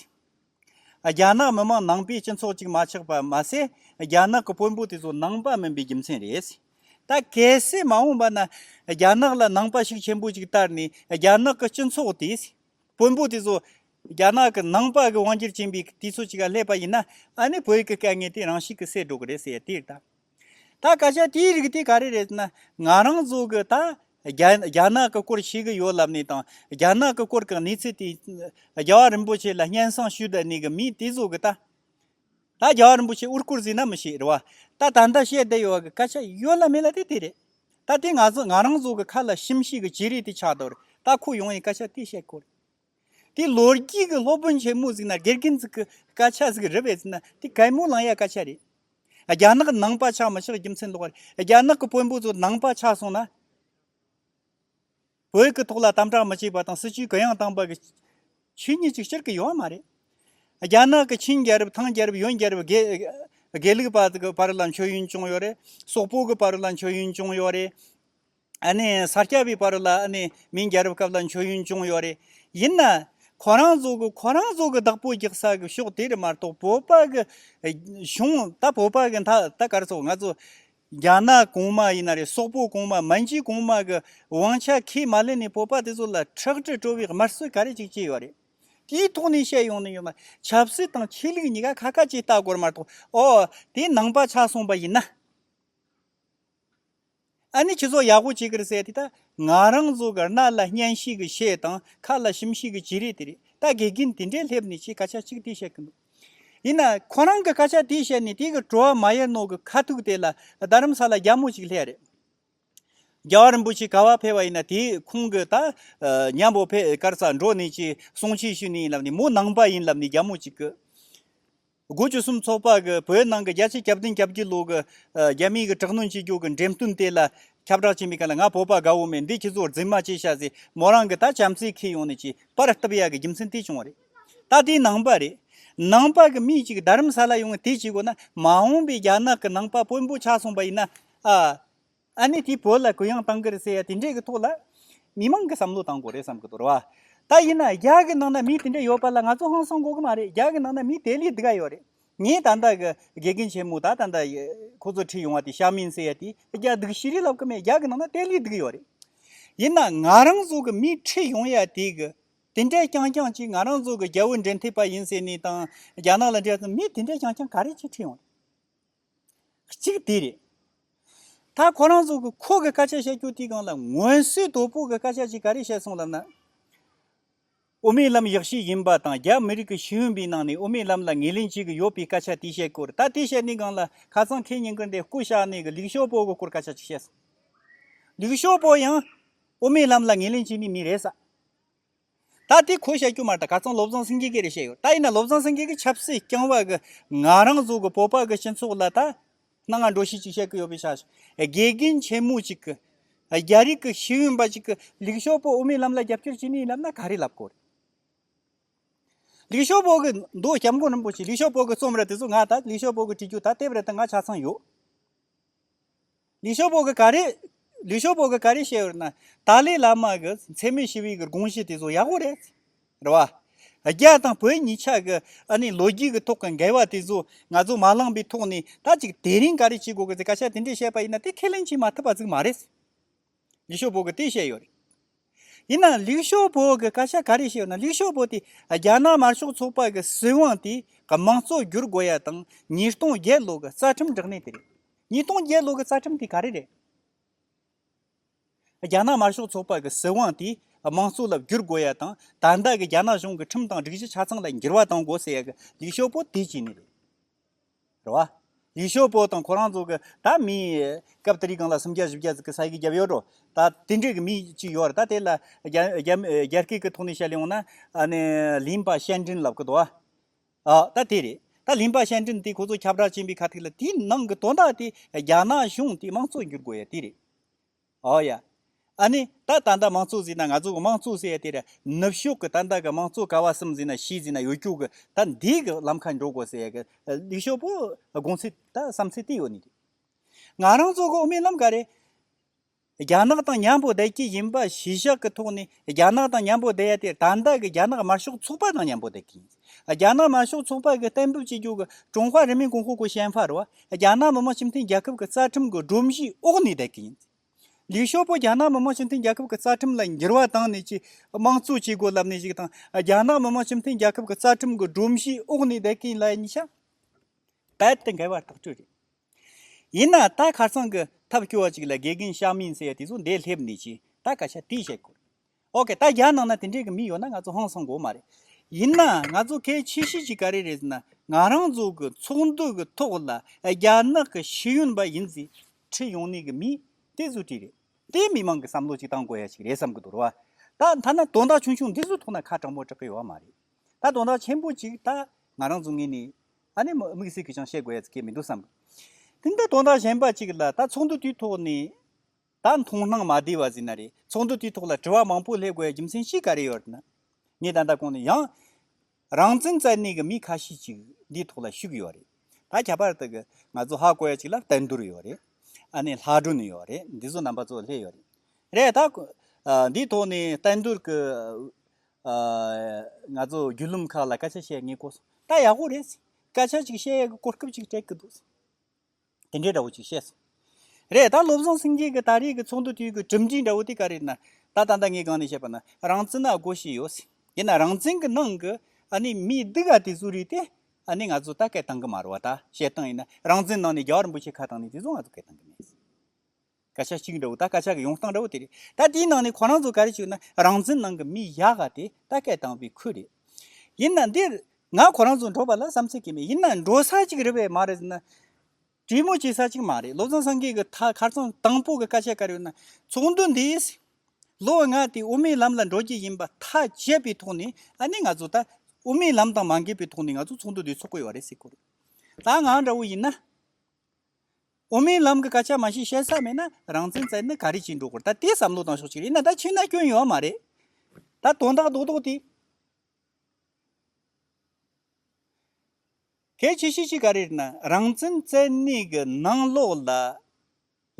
རྒྱ་ནག་མི་མང་ནང་པའི་སྤྱི་ཚོགས་གཅིག་མ་ཆགས་པ་མ་ཟད་རྒྱ་ནག་གི་དཔོན་པོ་དེ་ཚོ་ནང་པ་མིན་པའི་རྒྱུ་མཚན་རེད། ད་གལ་སྲིད་མ་འོངས་པ་ན་རྒྱ་ནག་ལ་ནང་པ་ཞིག་ཆེན་པོ་ཅིག་བསྟར་ནས་རྒྱ་ནག་གི་སྤྱི་ཚོགས་དེས་དཔོན་པོ་དེ་ཚོ་རྒྱ་ནག་གི་ནང་པ་གི་དབང་སྒྱུར་བྱེད་པའི་དུས་ཚོད་ཅིག་ལ་སླེབས་པ་ཡིན་ན་ཨ་ནི་བོད་ཀྱི་དཀའ་ངལ་དེ་རང་ཞིག་གིས་སེལ་འགྲོ་གི་རེད་ཟེར་ཡ་དེ་ལྟ། ད་སྐད་ཆ་དེའི་རིགས་དེ་ག་རེ་རེད་ཟེར་ན། ང་རང་ཚོ་གི་ད་རྒྱ་ནག་གི་སྐོར་ཤེས་གི་ཡོད་ལབ་ནས་དང་རྒྱ་ནག་གི་སྐོར་གི་གནས་ཚུལ་དེ། རྒྱལ་བ་རིན་པོ་ཆེ་ལ་སྙན་གསང་ཞུས་བསྡད་ནས་གི་མི་དེ་ཚོ་གི་ད། ད་རྒྱལ་བ་རིན་པོ་ཆེ་དབུ་བསྐོར་ཟིན་ན་མི་ཤེས་རེད་བ། ད་ད་ལྟ་བཤད་བསྡད་ཡོད་གི་སྐད་ཆ་ཡོད་ལ་མེད་ལ་དེ་དེ་རེད། ད་དེ་ང་ཚོ་ང་རང་ཚོ་གི་ཁ་ལ་ཞིམ་ཤེས་གི་བྱེད་རིགས་དེ་ཆགས་འདུག་རེད་ད་ཁོ་ཡོང་ཡས་སྐད་ཆ་དེ་བཤད་དགོས་རེད། དེ་ལོ་རྒྱུས་ཀྱི་སློབ་དཔོན་ཆེན་མོ་ཟིག་ན་གེར་གིན་ཛིག་གི་སྐད་ཆ་ཟིག་རི་བས་ཟིན་ན་དེ་གད་མོ་ལངས་ཡ་སྐད་ཆ་རེད། རྒྱ་ནག་གི་ནང་པ་ཆགས་མི་ཆགས་རྒྱུ་མཚན་ལོག་རེད་རྒྱ་ནག་གི་དཔོན་པོ་ཚོ་ནང་པ་ཆགས་སོང་ན། བོད་ཀྱི་ཐོག་ལ་དམ་དྲག་མི་བྱེད་པ་དང་སྲིད་བྱུས་གུ་ཡངས་བཏང་པ་གི་ཆོས་ཉིད་ཅིག་སྤྱིར་གི་ཡོད་མ་རེད། རྒྱ་ནག་གི་ཆིན་རྒྱལ་རབས་ཐང་རྒྱལ་རབས་ཡོན་རྒྱལ་རབས་དགེ་ལུགས་པ་ཚོ་གི་བར་ལ་མཆོད་ཡོན་བྱུང་ཡོད་རེད། སོག་པོ་གི་བར་ལ་མཆོད་ཡོན་བྱུང་ཡོད་རེད། ས་སྐྱ་པའི་བར་ལ་མིང་རྒྱལ་རབས་སྐབས་ལ་མཆོད་ཡོན་ཅུང་ཡོད་རེད། ཡིན་ན། ཁོ་རང་ཚོ་གི་ཁོ་རང་ཚོ་གི་བདག་པོ་རྒྱག་ས་གི་ཕྱོགས་དེ་རེད་མ་གཏོགས་བོད་པ་གི་གཞུང་ད་བོད་པ་གི་ད་གར་ཚོ་ང་ཚོ་རྒྱ་ནག་གོང་མ་ཡིན་ན་རེད་སོག་པོ་གོང་མ་མ་འཇིག་གོང་མ་གི་དབང་ཆ་ཁས་མ་ལེན་ནས་བོད་པ་དེ་ཚོ་ལ་ཁྲག་དྲི་བྲོ་བའི་དམར་གསོད་ག་རེ་ཅིག་བྱས་ཡོད་རེད། དེའི་ཐོག་ནས་བཤད་ཡོང་ནི་ཡོད་མ་ཆབ་སྲིད་དང་ཆོས་ལུགས་གཉིས་ཀ་ཁ་ཁ་ཅིག་ལྟ་དགོས་རེད་མ་གཏོགས་ཨོ་དེ་ནང་པ་ཆགས་སོང་པ་ཡིན་ན། ཨ་ནི་ཁྱི་ཚོ་ཡག་པོ་བྱེད་ཀིར་ཟེར་དེ་ད་ང་རང་ཚོ་གར་ནག་ལ་སྙན་ཤིག་གི་ཤེས་དང་ཁ་ལ་ཞིམ་ཤིག་གི་བྱེད་རེས་དེ་རེད་ད་དགེ་རྒན་དེ་འདྲས་སླེབས་ནས་ཁྱིས་སྐད་ཆ་གཅིག་དེ་བཤད་ཀིན་འདུག་ཡིན་ན་ཁོ་རང་གི་སྐད་ཆ་དེ་བཤད་ནས་དེ་གི་བྲོ་བ་མ་ཡལ་ནོག་གི་ཁ་ཐུག་དེ་ལ་རྡ་རམ་ས་ལ་རྒྱ་མོ་གཅིག་སླེབས་རེད། རྒྱ་བ་རིན་པོ་ཆེ་ག་བ་ཕེབས་བ་ཡིན་ན་དེས་ཁོང་གི་ད་ཉམས་པོ་ཕེ་ཀར་ས་འགྲོ་ནས་ཀྱིས་གསུང་ཆེ་ཞུས་ནས་ཡིན་ལབ་ནས་མོ་ནང་པ་ཡིན་ལབ་ནས་རྒྱ་མོ་གཅིག་གི། དགུ་བཅུ་གསུམ་ཚོགས་པ་གིས་བོད་ནང་གི་རྒྱ་ཆེ་ཁྱབ་བསྟན་ཁྱབ་ཀྱི་ལུགས་ཀྱི་རྒྱ་མིའི་གི་དྲག་གནོན་བྱེད་རྒྱུ་གི་འགྲེམས་སྟོན་དེ་ལ་ཁྱབ་བསྒྲགས་བྱེད་མི་ག་ལ་ང་བོད་པ་དགའ་བོ་མེད་འདི་ཁྱེད་ཚོར་རྫིག་མ་བྱེད་ཤག་ཟེར་མོ་རང་གི་ད་བྱམས་བརྩེ་ཁྱེད་ཡོང་ནས་ཅི་པར་བཏབ་ཡག་གི་རྒྱུ་མཚན་དེ་བྱུང་བ་རེད་ད་དེ་ནང་པ་རེད་ནང་པ་གི་མི་ཅིག་རྡ་རམ་ས་ལ་ཡོང་ནས་དེ་བྱེད་དགོས་ན་མ་འོངས་པའི་རྒྱ་ནག་གི་ནང་པ་དཔོན་པོ་ཆགས་སོང་པ་ཡིན་ན་ཨ། ཨ་ནི་དེས་བོད་ལ་གུ་ཡངས་གཏང་གི་རེད་ཟེར་ཡ་དེ་འདྲས་ཀྱི་ཐོག་ལ། མི་མང་གི་བསམ་བློ་གཏང་དགོས་རེད་བསམ་གྱི་འདུག་ར་བ། ད་ཡིན་ན་རྒྱ་གི་ནང་ན་མི་དེ་འདྲས་ཡོད་པ་ལ་ང་ཚོ་ཧང་སང་གོ་གི་མ་རེད་རྒྱ་གི་ནང་ན་མི་དེ་ལས་འདི་ག་ཡོད་རེད། ངས་ད་ལྟ་གི་དགེ་རྒན་ཆེན་མོ་ད་ད་ལྟ་ཁོ་ཚོ་ཁྲིད་ཡོང་བ་དེ་ཤ་མིན་ཟེར་ཡ་དེ་རྒྱ་སྡིག་ཤི་རེ་ལབ་གི་མེད་རྒྱ་གི་ནང་ན་དེ་ལས་སྡིག་ཡོད་རེད། ཡིན་ན་ང་རང་ཚོ་གི་མི་ཁྲིད་ཡོང་ཡ་དེ་གི་དེ་འདྲས་རྐྱང་རྐྱང་གཅིག་ང་རང་ཚོ་གི་རྒྱ་བོད་འབྲེལ་མཐུད་པ་ཡིན་ཟེར་ནས་དང་རྒྱ་ནག་ལ་འབྲེལ་ཚོ་མི་དེ་འདྲས་རྐྱང་རྐྱང་ག་རེ་གཅིག་ཁྲིད་ཡོང་རེད། གཅིག་དེ་རེད། ད་ཁོ་རང་ཚོ་གི་ཁོ་གི་སྐད་ཆ་བཤད་རྒྱུ་དེ་གང་ལ་ངོས་བསུའི་དོ་པོ་གི་སྐད་ཆ་ཅིག་ག་རེ་བཤད་སོང་ལབ་ན། ཨོ་མའི་ལམ་ཡག་ཤོས་ཡིན་པ་དང་རྒྱ་མི་རིགས་ཀྱི་ཤེས་ཡོན་པའི་ནང་ནས་ཨོ་མའི་ལམ་ལ་ངེས་ལེན་བྱེད་གི་ཡོད་པའི་སྐད་ཆ་དེ་བཤད་སྐོར་ད་དེ་བཤད་ནས་གང་ལ་ཁ་ཚང་ཁེ་ཉིན་གི་འདི་སྐུ་ཞག་ནས་གི་ལིག་ཞོ་པོ་གི་སྐོར་སྐད་ཆ་ཅིག་བཤད་སོང། ལིག་ཞོ་པོ་ཡང་ཨོ་མའི་ལམ་ལ་ངེས་ལེན་བྱེད་ནི་མི་རེད་ས། ད་དེ་གོ་བྱ་རྒྱུ་མ་རེད་ག་ཚང་བློ་བཟང་སེང་གེ་གི་རེད་བཤད་ཡོད་ད་ཡིན་ན་བློ་བཟང་སེང་གེ་གི་ཆབ་སྲིད་རྐྱང་བ་གི་ང་རང་གཟུགས་གི་སྤོབས་པ་གི་སྤྱི་ཚོགས་ལ་ད་སྣང་ང་འགྲོ་ཤེས་ཅིག་བཤད་གི་ཡོད་པའི་ཆ་ཞིག་དགེ་རྒན་ཆེན་མོ་ཅིག་གི་རྒྱ་རིགས་གི་ཤེས་ཡོན་པ་ཅིག་གི་ལིག་ཞོ་པོ་དབུ་མའི་ལམ་ལ་རྒྱབ་སྐྱོར་བྱེད་ནི་ཡིན་ལབ་ན་ག་རེ་ལབ་དགོས་རེད། ལིག་ཞོ་པོ་གི་མདོ་སྐྱབས་མགོན་རིན་པོ་ཆེ་ལིག་ཞོ་པོ་གི་རྩོམ་རེད་དེ་ཚོ་ང་ད་ལིག་ཞོ་པོ་གི་བྲིས་རྒྱུ་ད་དེབ་རེ་ད་ང་ཆ་ཚང་ཡོད། ལིས་ཞོ་པོ་གི་ག་རེ། ལིས་ཞོ་པོ་གི་ག་རེ་བཤད་ཡོད་ན། ཏཱ་ལའི་བླ་མ་གི་འཚེ་མེད་ཞི་བའི་གི་དགོངས་གཞི་དེ་ཚོ་ཡག་པོ་རེད། རེད་བ། རྒྱ་དང་བོད་གཉིས་ཆ་གི་ཨ་ནི་ལོ་རྒྱུས་གི་ཐོག་གི་འགལ་བ་དེ་ཚོ་ང་ཚོ་མ་བླངས་པའི་ཐོག་ནས་ད་ཅིག་དེ་རིང་ག་རེ་བྱེད་དགོས་གི་ཟེར་ཁ་ཤ་དེ་འདྲས་བཤད་པ་ཡིན་ན་དེ་ཁས་ལེན་བྱེད་མ་ཐུབ་པ་ཟིག་མ་རེད། ལིག་ཤོ་བོ་གིས་དེ་བཤད་ཡོད་རེད། ཡིན་ནའང་ལིག་ཤོ་བོ་གིས་བཀའ་ཤག་ག་རེ་བཤད་ཡོད་ན་ལིག་ཤོ་བོ་དེ་རྒྱ་ནག་དམར་ཤོག་ཚོགས་པ་གི་སྲིད་དབང་དེ་གི་མང་གཙོ་བསྒྱུར་དགོས་ཡ་དང་ཉིས་སྟོང་བརྒྱད་ལོ་གི་རྩ་ཁྲིམས་འགྲིག་མེད་དེ་རེད། ཉིས་སྟོང་བརྒྱད་ལོ་གི་རྩ་ཁྲིམས་དེ་ག་རེ་རེད། རྒྱ་ནག་དམར་ཤོག་ཚོགས་པ་གི་སྲིད་དབང་དེ་མང་གཙོ་ལ་བསྒྱུར་དགོས་ཡ་དང་ད་ལྟ་གི་རྒྱ་ནག་གཞུང་གི་ཁྲིམས་དང་སྒྲིག་གཞི་ཆ་ཚང་ལ་འགྱུར་བ་གཏོང་དགོས་ཟེར་ཡ་གི་ལིག་ཤོ་བོ་དེ་བྱས་ནི་རེད། རེད་བ། ཡུལ་ཤོག་པོ་དང་ཁོ་རང་ཚོ་གི་ད་མི་སྐབས་དེ་རིགས་གང་ལ་སུམ་བརྒྱ་བཞི་བརྒྱ་ཟིག་གི་ས་ཡི་གི་རྒྱབ་ཡོད་འགྲོ་ད་དེ་འདྲས་གི་མི་གཅིག་ཡོད་རེད་ད་དེ་ལ་རྒྱ་སྐད་གི་ཐོག་ནས་བཤད་ཡོང་ན་ཨ་ནི་ལིན་པ་ཤན་ཀྲིན་ལབ་གི་འདུག་བ། ཨ་ད་དེ་རེད་ད་ལིན་པ་ཤན་ཀྲིན་དེ་ཁོ་ཚོ་ཁྱབ་བསྒྲགས་ཅན་པའི་ཁ་ཐིག་ལ་དེའི་ནང་གི་དོན་དག་དེ་རྒྱ་ནག་གཞུང་དེ་དམངས་གཙོ་འགྱུར་དགོས་ཡ་དེ་རེད། ཨོ་ཡ། ཨ་ནི། ད་ད་ལྟ་མང་གཙོ་ཟེར་ན་ང་ཚོ་གི་མང་གཙོ་ཟེར་ཡ་དེ་རེད། ནུབ་ཕྱོགས་ཀྱི་ད་ལྟ་གི་མང་གཙོ་ག་བ་གསུམ་ཟེར་ན་ཞིག་ཟེར་ན་ཡོད་རྒྱུ་གི་ད་འདིའི་གི་ལམ་ཁ་འགྲོ་དགོས་ཟེར་ཡ་གི་ལིག་ཞོ་པོ་དགོངས་ཚུལ་ད་བསམ་ཚུལ་དེ་ཡོད་ནི་རེད། ང་རང་ཚོ་གི་དབུ་མའི་ལམ་ག་རེ། རྒྱ་ནག་དང་མཉམ་པོ་བསྡད་ཀྱི་ཡིན་པ་གཞི་བཞག་གི་ཐོག་ནས་རྒྱ་ནག་དང་མཉམ་པོ་བསྡད་ཡ་དེ་ད་ལྟ་གི་རྒྱ་ནག་དམར་ཤོག་ཚོགས་པ་དང་མཉམ་པོ་བསྡད་ཀྱི་ཡིན། རྒྱ་ནག་དམར་ཤོག་ཚོགས་པ་གིས་གཏན་འབེབས་བྱེད་རྒྱུ་གི་ཀྲུང་ཧྭ་རིམ་པའི་གོང་འོག་གི་ཞན་ཧྥ་རུ་རྒྱ་ནག་མི་དམངས་སྤྱི་མཐུན་རྒྱལ་ཁབ་ཀྱི་རྩ་ཁྲིམས་ཀྱི་སྒྲོམ་གཞིའི་འོག་ནས་བསྡད་ཀྱི་ཡིན། ལིས་ཞོ་པོ་རྒྱ་ནག་མི་དམངས་སྤྱི་མཐུན་རྒྱལ་ཁབ་ཀྱི་རྩ་ཁྲིམས་ལ་འགྱུར་བ་བཏང་ནས་ཆེས་དམངས་གཙོ་བྱེད་དགོས་ལབ་ནས་ཞིག་དང་རྒྱ་ནག་མི་དམངས་སྤྱི་མཐུན་རྒྱལ་ཁབ་ཀྱི་རྩ་ཁྲིམས་ཀྱི་སྒྲོམ་གཞིའི་འོག་ནས་བསྡད་ཀྱི་ཡིན་ལ་གཉིས་ཆ་རྦད་དེ་འགལ་བ་ཐག་གཅོད་རེད། ཡིན་ནའང་ད་ཁ་སང་གི་ཐབས་སྐྱོ་བ་ཅིག་ལ་དགེ་རྒན་ཞའོ་མིང་ཟེར་བ་དེ་ཚོ་འདས་སླེབས་ནས་ཀྱིས་ད་སྐད་ཆ་དེ་བཤད་དགོས། ཨོ་ཁེ་ད་རྒྱ་ནག་ན་དེ་འདྲས་ཀྱི་མི་ཡོད་ན་ང་ཚོ་ཧང་སང་དགོས་མ་རེད། ཡིན་ན་ང་ཚོ་གལ་ཆེ་ཤོས་ཀྱི་ག་རེ་རེད་ཟེར་ན་ང་རང་ཚོ་གི་ཚོགས་འདུ་གི་ཐོག་ལ་རྒྱ་ནག་གི་ཤེས་ཡོན་པ་ཡིན་ཟེར་ཁྲི་ཡོང་ནས་ཀྱི་མི་དེ་ཚོ་གྲི་རེད་དེ་མི་མང་གི་བསམ་བློ་ཅིག་གཏང་དགོས་ཡ་ཅིག་རེད་བསམ་གྱི་འདུག་ད་ད་ནི་དོན་དག་ཆུང་ཆུང་འདི་ཚོའི་ཐོག་ན་ཁ་དྲང་པོ་དྲག་གི་ཡོད་མ་རེད་ད་དོན་དག་ཆེན་པོ་ཅིག་ད་ང་རང་ཚོ་ངེས་ནས་ཨ་ནེ་དམིགས་བསལ་གྱི་ཅང་བཤད་དགོས་ཡ་ཅིག་གི་མི་འདུག་བསམ་གི་འདུག་ད་དོན་དག་གཞན་པ་ཅིག་ལ་ད་ཚོགས་འདུ་དེའི་ཐོག་ནས། ད་མཐོང་སྣང་མ་བདེ་བ་ཟིན་ན་རེད་ཚོགས་འདུ་དེའི་ཐོག་ལ་དྲི་བ་མང་པོ་སླེབས་དགོས་རྒྱུ་མཚན་ཤིག་ག་རེ་ཡོད་ན། ངས་ད་ལྟ་གོང་ནས་ཡང། རང་བཙན་རྩ་གནས་ཀྱི་མི་ཁ་ཤས་ཅིག་འདིའི་ཐོག་ལ་ཞུགས་ཡོད་རེད། ད་ཁྱད་པར་དུ་གི་ང་ཚོ་ཧ་གོ་ཡ་ཅིག་ལ་བལྟ་འདུར་ཡོད་རེད། ཨ་ནེ་ལྷ་སྒྲུང་ནས་ཡོད་རེད་འདི་ཚོ་རྣམ་པ་ཚོ་ལྷད་ཡོད་རེད། རེད་ད། འདིའི་ཐོག་ནས་བལྟ་འདུར་གི། ང་ཚོ་རྒྱུད་ལུམ་ཁག་ལ་སྐད་ཆ་བཤད་ངེས་གོ་སོང་ད་ཡག་པོ་རེད། སྐད་ཆ་ཅིག་བཤད་ཡས་ཀྱི་གོ་སྐབས་ཅིག་སྤྲད་ཀྱི་འདུག། དེ་འདྲའི་འདྲ་བོ་ཅིག་བཤད་སོང། རེད་ད་བློ་བཟང་སེང་གེ་གི་ད་རེས་ཀྱི་ཚོགས་འདུ་དུས་ཀྱི་གྲུབ་འབྲས་འདྲ་བོ་དེ་ག་རེ་ན་ད་ད་ལྟ་ངས་གང་ནས་བཤད་པ་ན་རང་བཙན་ན་སྒོ་ཤེས་ཡོད་སྲིད་དེ་ན་རང་བཙན་གྱི་ནང་གི་ཨ་ནི་མི་སྡུག་ག་དེ་ཚོ་རིག་དེ་ཨ་ནི་ང་ཚོ་ད་སྐད་བཏང་གི་མ་རོ་བ་ད་བཤད་སྟངས་ཡིན་ན་རང་བཙན་ནང་ནས་རྒྱ་གར་འབུ་ཆེ་ཁ་བཏང་ནས་དེ་ཚོ་ང་ཚོ་སྐད་བཏང་གི་མེད་སྲིད། སྐད་ཆ་གཅིག་འདྲ་བོ་ད་སྐད་ཆ་གི་ཡོང་སྟངས་འདྲ་བོ་དེ་རེད་ད་དེའི་ནང་ནས་ཁོ་རང་ཚོ་ག་རེ་བྱུང་ན་རང་བཙན་ནང་གི་མི་ཡག་ག་དེ་ད་སྐད་བཏང་བའི་ཁུལ་རེད། ཡིན་ན་འདིར་ང་ཁོ་རང་ཚོ་འགྲོ་པ་ལ་བསམ་ཚོད་ཀྱི་མེད་ཡིན་ན་འགྲོ་ས་ཅིག་རེད་བས་མ་རེད་ཟེར་ན་གྲོས་མོལ་བྱེད་ས་ཅིག་མ་རེད་བློ་བཟང་སངས་རྒྱས་ཀྱི་ཐ་ཁར་ཚང་དང་པོ་གི་སྐད་ཆ་དཀར་ཡོད་ན་ཚོགས་འདུ་འདིས་ལོ་ལྔ་དེ་དབུ་མའི་ལམ་ལ་འགྲོ་རྒྱུ་ཡིན་པ་ཐག་བཅད་པའི་ཐོག་ནས་ཨ་ནི་ང་ཚོ་ད་དབུ་མའི་ལམ་དང་མ་འགལ་བའི་ཐོག་ནས་ང་ཚོ་ཚོགས་འདུ་འདི་ཚོགས་དགོས་བ་རེད་ཟེར་དགོས་རེད་ད་ང་འདྲ་བོ་ཡིན་ན། འོ་མའི་ལམ་གྱི་སྐད་ཆ་མ་ཤེས་བཤད་ས་མེད་ན་རང་བཙན་བཙལ་ནས་ག་རེ་བྱེད་འགྲོ་དགོས་ད་དེའི་བསམ་བློ་བཏང་ཤོག་གཅིག་རེད་ན་ད་ཕྱི་ན་སྐྱོན་ཡོད་མ་རེད་ད་དོན་དག་རྡོག་རྡོག་དེ། གལ་ཆེ་ཤོས་གཅིག་ག་རེ་རེད་ན་རང་བཙན་བཙལ་གནས་ཀྱི་ནང་ལོགས་ལ་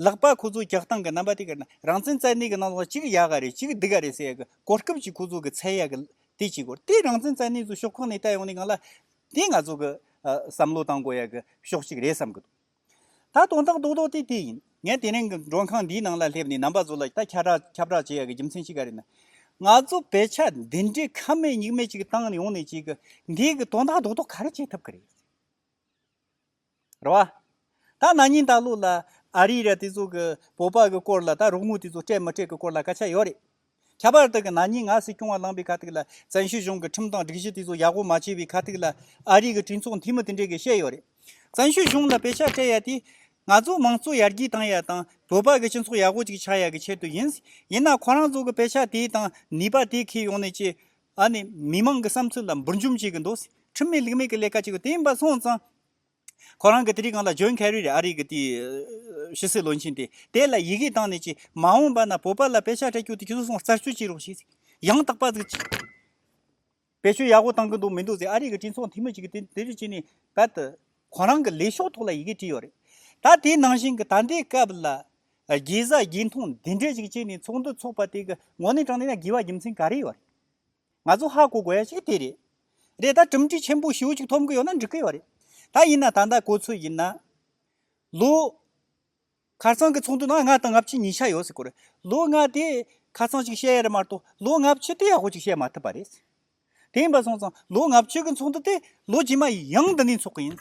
ལག་པ་ཁོ་ཚོ་རྒྱག་སྟངས་གྱི་རྣམ་པ་དེ་ག་རེ་ན་རང་བཙན་བཙལ་གནས་ཀྱི་ནང་ལོགས་ལ་གཅིག་ཡག་ག་རེ་གཅིག་སྡིག་ག་རེ་ཟེར་ཡག་གི་གོ་སྐབས་ཀྱི་ཁོ་ཚོ་གི་ཚད་ཡག་གི་དེ་བྱེད་དགོས་རེད་དེ་རང་བཙན་བཙལ་གནས་ཚོ་ཤོག་ཁག་ནས་བལྟས་ཡོང་ནས་གང་ལ་དེ་ང་ཚོ་གི་བསམ་བློ་བཏང་དགོས་ཡག་གི་ཕྱོགས་གཅིག་རེད་བསམ་གི་འདུག་ད་དོན་དག་རྡོག་རྡོག་དེ་དེ་ཡིན་ངས་དེ་རིང་གི་མགྲོན་ཁང་འདིའི་ནང་ལ་སླེབས་ནས་རྣམ་པ་ཚོ་ལ་ད་ཁྱབ་བསྒྲགས་བྱེད་ཡག་གི་རྒྱུ་མཚན་གཅིག་ག་རེད་ན། ང་ཚོ་བས་ཆ་འདི་འདྲའི་ཁ་མེད་མྱིག་མེད་ཅིག་བཏང་ཡོང་ནས་ཅིག་གི་འདིའི་གི་དོན་དག་རྡོག་རྡོག་ག་རེ་བྱེད་ཐུབ་གི་རེད། ར་བ། ད་ན་ནིང་ད་ལོ་ལ་ཨ་རི་ར་དེ་ཚོ་གི་བོད་པ་གི་སྐོར་ལ་ད་རོགས་དངུལ་དེ་ཚོ་སྤྲད་མི་སྤྲད་གི་སྐོར་ལ་སྐད་ཆ་ཡོད་རེད། ཁྱད་པར་དུ་གི་ན་ནིང་ང་སྲིད་སྐྱོང་བ་ལངས་པའི་ཁ་ཐུག་ལ་བཙན་བྱོལ་གཞུང་གི་ཁྲིམས་དང་སྒྲིག་གཞི་དེ་ཚོ་ཡག་པོ་མ་བྱས་པའི་ཁ་ཐུག་ལ་ཨ་རི་གི་གྲོས་ཚོགས་འཐུས་མི་དེ་འདྲས་གི་བཤད་ཡོད་རེད། བཙན་བྱོལ་གཞུང་ལ་དཔེ་ཆ་སྤྲད་ཡ་དེ་ང་ཚོ་མང་གཙོ་ཡར་རྒྱས་བཏང་ཡ་དང་བོད་པ་གི་སྤྱི་ཚོགས་ཡག་པོ་ཅིག་ཆགས་ཡ་གི་ཆེད་དུ་ཡིན། ཡིན་ན་ཁོ་རང་ཚོ་གི་དཔེ་ཆ་དེ་དང་ནུས་པ་དེ་ཁས་ཡོང་ནས་ཀྱི་ཨ་ནི་མི་མང་གི་བསམ་ཚུལ་ལ་འབུར་འཇོམས་བྱེད་ཀྱི་འདུག་ཟེར་ཁྲིམས་མེད་ལུགས་མེད་ཀྱི་ལས་ཀ་བྱེད་དགོས་དེ་ཡིན་པ་སོང་ཙང། ཁོ་རང་གི་དེ་རིགས་གང་ལ་འཇོན་གལ་རེད་ཨ་རིག་གི་དེ་ཕྱི་སྲིད་བློན་ཆེན་དེ་དེ་ལ་ཡི་གེ་བཏང་ནས་ཀྱི་མ་འོངས་པ་ན་བོད་པ་ལ་དཔེ་ཆ་སྤྲད་རྒྱུ་དེ་ཁྱོད་ཚོ་སོང་རྩར་བསྐྱོད་ཀྱི་རོགས་ཞིག་ཡང་དག་པ་ཟིག་ཅིག་བེད་སྤྱོད་ཡག་པོ་བཏང་གི་འདུག་མི་འདུག་ཟེར་ཨ་རིག་གི་སྤྲིན་ཚོགས་འཐུས་མི་ཅིག་གིས་དེ་རིགས་བྱས་ནས་བད་དུ། ཁོ་རང་གི་ལས་ཤོག་ཐོག་ལ་ཡི་གེ་བྲིས་ཡོད་རེད་ད་དེ་ནང་བཞིན་གྱི་ད་ལྟའི་སྐབས་ལ་དགེ་བཟའ་དགེ་མཐོང་འདི་འདྲས་ཞིག་བྱས་ནས་ཚོགས་འདུ་འཚོགས་པ་དེ་གི་ངོ་ནས་དྲངས་ན་ཡང་དགེ་བ་རྒྱུ་མཚན་ག་རེ་ཡོད་རེད། ང་ཚོ་ཧ་གོ་དགོས་ཡ་ཞིག་དེ་རེད། རེད་ད་གྲུབ་འབྲས་ཆེན་པོ་ཞེ་བོ་ཞིག་ཐོབ་གི་ཡོད་ན་འགྲིག་གི་ཡོད་རེད། ད་ཡིན་ན་ད་ལྟ་གོ་ཚོད་ཡིན་ན། ལོ། ཁར་ཚང་གི་ཚོགས་འདུ་ནང་ལྔ་དང་ལྔ་བཅུ་གཉིས་ཆ་ཡོད་སྲིད་གོ་རེད། ལོ་ལྔ་དེ་ཁ་ཚང་ཞིག་བཤད་ཡ་རེད་མ་གཏོགས་ལོ་ལྔ་བཅུ་དེ་ཡག་པོ་ཞིག་བཤད་མ་ཐུབ་པ་རེད། དེ་ཡིན་པ་སོང་ཙང་ལོ་ལྔ་བཅུ་གི་ཚོགས་འདུ་དེ་ལོ་རྗེས་མ་ཡང་འདི་ནས་འཚོགས་གི་ཡིན།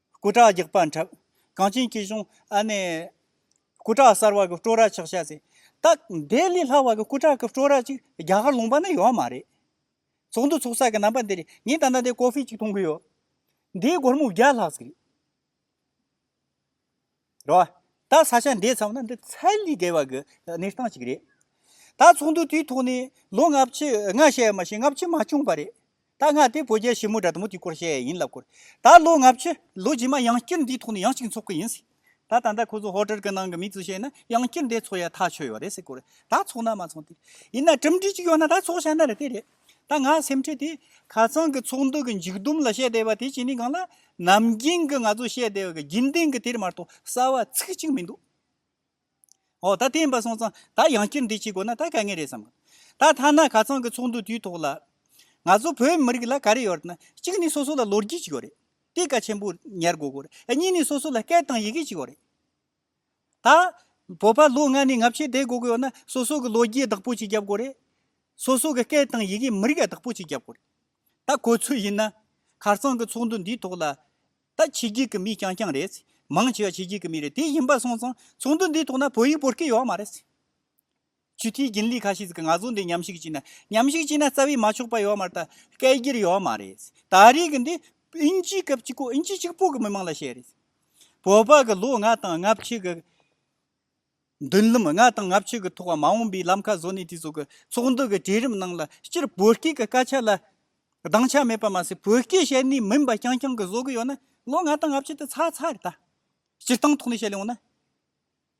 སྐུ་དྲག་རྒྱག་པ་འཁྲབ། གངས་ཅན་སྐྱིད་གཤོངས་ཨ་ནེ། སྐུ་དྲག་གསར་བ་གི་སྤྲོ་ར་ཆག་ཤ་ཟེ། སྟག་སྡེ་ལས་ལྷག་བ་གི་སྐུ་དྲག་གི་སྤྲོ་ར་ཅིག་རྒྱ་གར་ལོངས་པ་ནི་ཡོད་མ་རེད། ཚོགས་འདུ་ཚོགས་ས་གི་རྣམ་པ་འདི་རེད་ངས་ད་ལྟ་འདིར་ཀོ་ཧྥེ་ཅིག་འཐུང་གི་ཡོད། འདིའི་སྒོར་མོ་བརྒྱ་ལྷག་ཟིག་རེད། རེད་བ། ད་ས་ཆ་འདས་ཚར་བ་ན་འདི་ཚད་ལས་བརྒལ་བ་གི་གནས་སྟངས་ཅིག་རེད། ད་ཚོགས་འདུ་དེའི་ཐོག་ནས་ལོ་ལྔ་བཅུ་ལྔ་བཤད་ཡ་མ་བཤད་ལྔ་བཅུ་མ་བྱུང་བ་རེད། ད་ལྔ་དེ་བོད་རྒྱལ་ཞི་མོ་དགྲ་དུ་མོ་དེའི་སྐོར་བཤད་ཡ་ཡིན་ལབ་སྐོར། ད་ལོ་ལྔ་བཅུ་ལོ་རྗེས་མ་ཡང་བསྐྱར་འདིའི་ཐོག་ནས་ཡང་གཅིག་འཚོགས་ཀི་ཡིན་སྲིད། ད་ད་ལྟ་ཁོ་ཚོ་ཧོ་ཀྲར་གི་ནང་གི་མི་ཚོས་བཤད་ན་ཡང་བསྐྱར་འདས་འཚོགས་ཡ་ཐག་ཆོད་ཡོད་རེད་སྲིད་སྐོར། ད་འཚོགས་ན་མ་འཚོགས་དེ། ཡིན་ན་གྲུབ་འབྲས་ཅིག་ཡོད་ན་ད་འཚོགས་བྱ་ན་རེད་དེ་རེད། ད་ང་སེམས་ཁྲལ་དེ། ཁ་ཚང་གི་ཚོགས་འདུ་གི་འཇིག་དུམ་ལ་བཤད་བསྡད་པ་དེ་བྱས་ནས་གང་ལ། ནམ་རྒྱིན་གྱི་ང་ཚོ་བཤད་བསྡད་པ་གི་རྒྱུན་ལྡན་གྱི་དེར་མ་གཏོགས་གསར་བ་ཚིག་གཅིག་མི་འདུག། ཨོ་ད་བསྟན་པ་སོང་ཙང་ད་ཡང་བསྐྱུར་འདི་བྱེད་དགོས་ན་ད་དཀའ་ངལ་རེད་བསམ་གི། ད་ཐ་ན་ཁ་ཚང་གི་ཚོགས་འདུ་དུས་ཐོག་ལ། ང་ཚོ་བོད་མི་རིགས་ལ་ག་རེ་ཡོད་ན། གཅིག་ནི་སོ་སོ་ལ་ལོ་རྒྱུས་ཅིག་ཡོད་རེད། དེ་ཀ་ཆེན་པོ་ཉེར་དགོས་དགོས་རེད། གཉིས་ནི་སོ་སོ་ལ་སྐད་དང་ཡི་གེ་ཅིག་ཡོད་རེད། ད་བོད་པ་ལོ་ལྔ་ནས་ལྔ་བཅུའི་སྡེ་དགོས་ཀྱི་ཡོད་ན་སོ་སོ་གི་ལོ་རྒྱུས་བདག་པོ་གཅིག་རྒྱབ་དགོས་རེད། སོ་སོ་གི་སྐད་དང་ཡི་གེ་མི་རིགས་བདག་པོ་གཅིག་རྒྱབ་དགོས་རེད། ད་གོ་ཚོད་ཡིན་ན། ཁར་སང་གི་ཚོགས་འདུ་འདིའི་ཐོག་ལ། ད་ཕྱི་རྒྱལ་གི་མི་རྐྱང་རྐྱང་རེད། མང་ཆེ་བ་ཕྱི་རྒྱལ་གི་མི་རེད་དེ་ཡིན་པ་སོང་ཙང་ཚོགས་འདུ་འདིའི་ཐོག་ན་བོད་ཡིག་བོར་གི་ཡོད་མ་རེད། ཆུ་ཐིགས་རྒྱུན་ལས་ཁ་ཤས་ཟིག་གིས་ང་ཚོ་འདི་ཉམས་ཞིག་བྱས་ན་ཉམས་ཞིག་བྱས་ན་རྩ་བའི་མ་ཆོག་པ་ཡོད་མ་རེད་ད་སྐད་སྒྱུར་ཡོད་མ་རེད། ད་རེས་ཀྱི་འདི་དབྱིན་ཇིའི་སྐབས་གཅིག་གོ་དབྱིན་ཇི་གཅིག་པོ་གི་མི་མང་ལ་བཤད་རེད། བོད་པ་གི་ལོ་ལྔ་དང་ལྔ་བཅུ་གི་མདུན་ལམ་ལྔ་དང་ལྔ་བཅུ་གི་ཐོག་མ་འོངས་པའི་ལམ་ཁ་བཟོ་ནས་དེ་ཚོ་གི་ཚོགས་འདུ་གི་གྲལ་རིམ་ནང་ལ་སྤྱིར་བོད་སྐད་ཀྱི་སྐད་ཆ་ལ་སྡང་ཆ་མེད་པ་མ་ཟད་བོད་སྐད་བཤད་ནས་མིན་པ་རྐྱང་རྐྱང་གི་བཟོ་གི་ཡོད་ན་ལོ་ལྔ་དང་ལྔ་བཅུ་དེ་ཚར་ཚར་རེད་ད། སྤྱིར་བཏང་ཐོག་ནས་བཤད་ལེ་འོང་ན།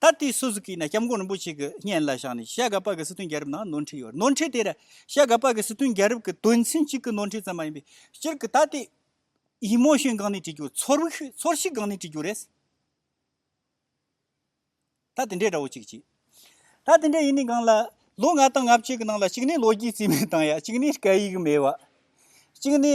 ད་ལྟའི་སུ་ཟུ་ཀི་ནི་སྐྱབས་མགོན་རིན་པོ་ཆེ་གི་སྙན་ལ་བཞག་ནས་ཤ་ག་པག་གི་སྲིད་དོན་རྒྱལ་རབས་ནང་ནོར་འཁྲུལ་ཡོད་རེད་ནོར་འཁྲུལ་དེ་ར་ཤ་ག་པག་གི་སྲིད་དོན་རྒྱལ་རབས་ཀྱི་དོན་ཚན་གཅིག་གི་ནོར་འཁྲུལ་ཙམ་མ་ཡིན་པའི་སྤྱིར་གི་ད་ལྟའི་ཡིག་རྨོངས་ཞེན་སྒང་ནས་བྲིས་རྒྱུ་ཚོར་བི་ཚོར་ཤི་སྒང་ནས་བྲིས་རྒྱུ་རེད། ད་དེ་འདྲའི་འདྲ་བོ་གཅིག་གཅིག་ད་དེ་འདྲའི་ཡིན་ནི་སྒང་ལ་ལོ་ལྔ་དང་ལྔ་བཅུ་གི་ནང་ལ་གཅིག་ནས་ལོ་རྒྱུས་རྩིས་མེད་བཏང་ཡ་གཅིག་ནས་སྐད་ཡིག་མེད་བ། གཅིག་ནས་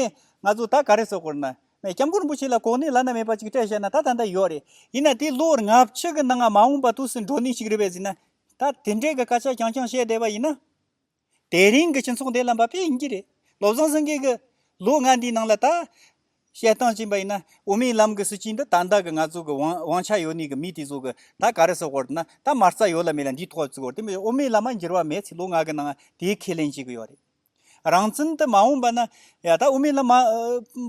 ང་ཚོ་ད་ག་རེ་བསོག་དགོས་ན་སྐྱབས་མགོན་རིན་པོ་ཆེ་ལ་གོ་གནས་བླ་ན་མེད་པ་ཅིག་སྤྲད་བཤད་ན་ད་ད་འདི་ཡོད་རེད། ཡིན་ན་དེ་ལོར་ལྔ་བཅུ་གི་ནང་ང་མ་འོངས་པ་ཐུགས་སུ་འགྲོ་ནུས་ཤིག་རེད་བས་ཟིན་ན། ད་དེ་འདྲའི་གི་སྐད་ཆ་རྐྱང་རྐྱང་བཤད་བསྡད་པ་ཡིན་ན། དེ་རིང་གི་སྤྱི་ཚོགས་འདི་ལ་འབབ་ཡས་ཡིན་གྱི་རེད། བློ་བཟང་སེང་གེ་གི། ལོ་ལྔ་འདིའི་ནང་ལ་ད། བཤད་སྟངས་ཅན་པ་ཡིན་ན་དབུ་མའི་ལམ་གི་སྲིད་བྱུས་འདི་ད་ལྟ་གི་ང་ཚོ་གི་དབང་དབང་ཆ་ཡོད་ནུས་གི་མི་དེ་ཚོ་གི་ད་ག་རེ་ཟེར་བར་དུ་ན་ད་མ་རྩ་ཡོད་ལ་མེད་ལ་འདིའི་ཐོག་བརྩིས་བར་དུ་དབུ་མའི་ལམ་མ་འགྱུར་བ་མེད་ཚེ་ལོ་ལྔ་གི་ནང་དེའི་ཁས་ལེན་བྱེད་གི་ཡོད་རེད། རང་བཙན་དུ་མ་འོངས་པ་ན་ད་ལྟ་དབུ་མའི་ལམ་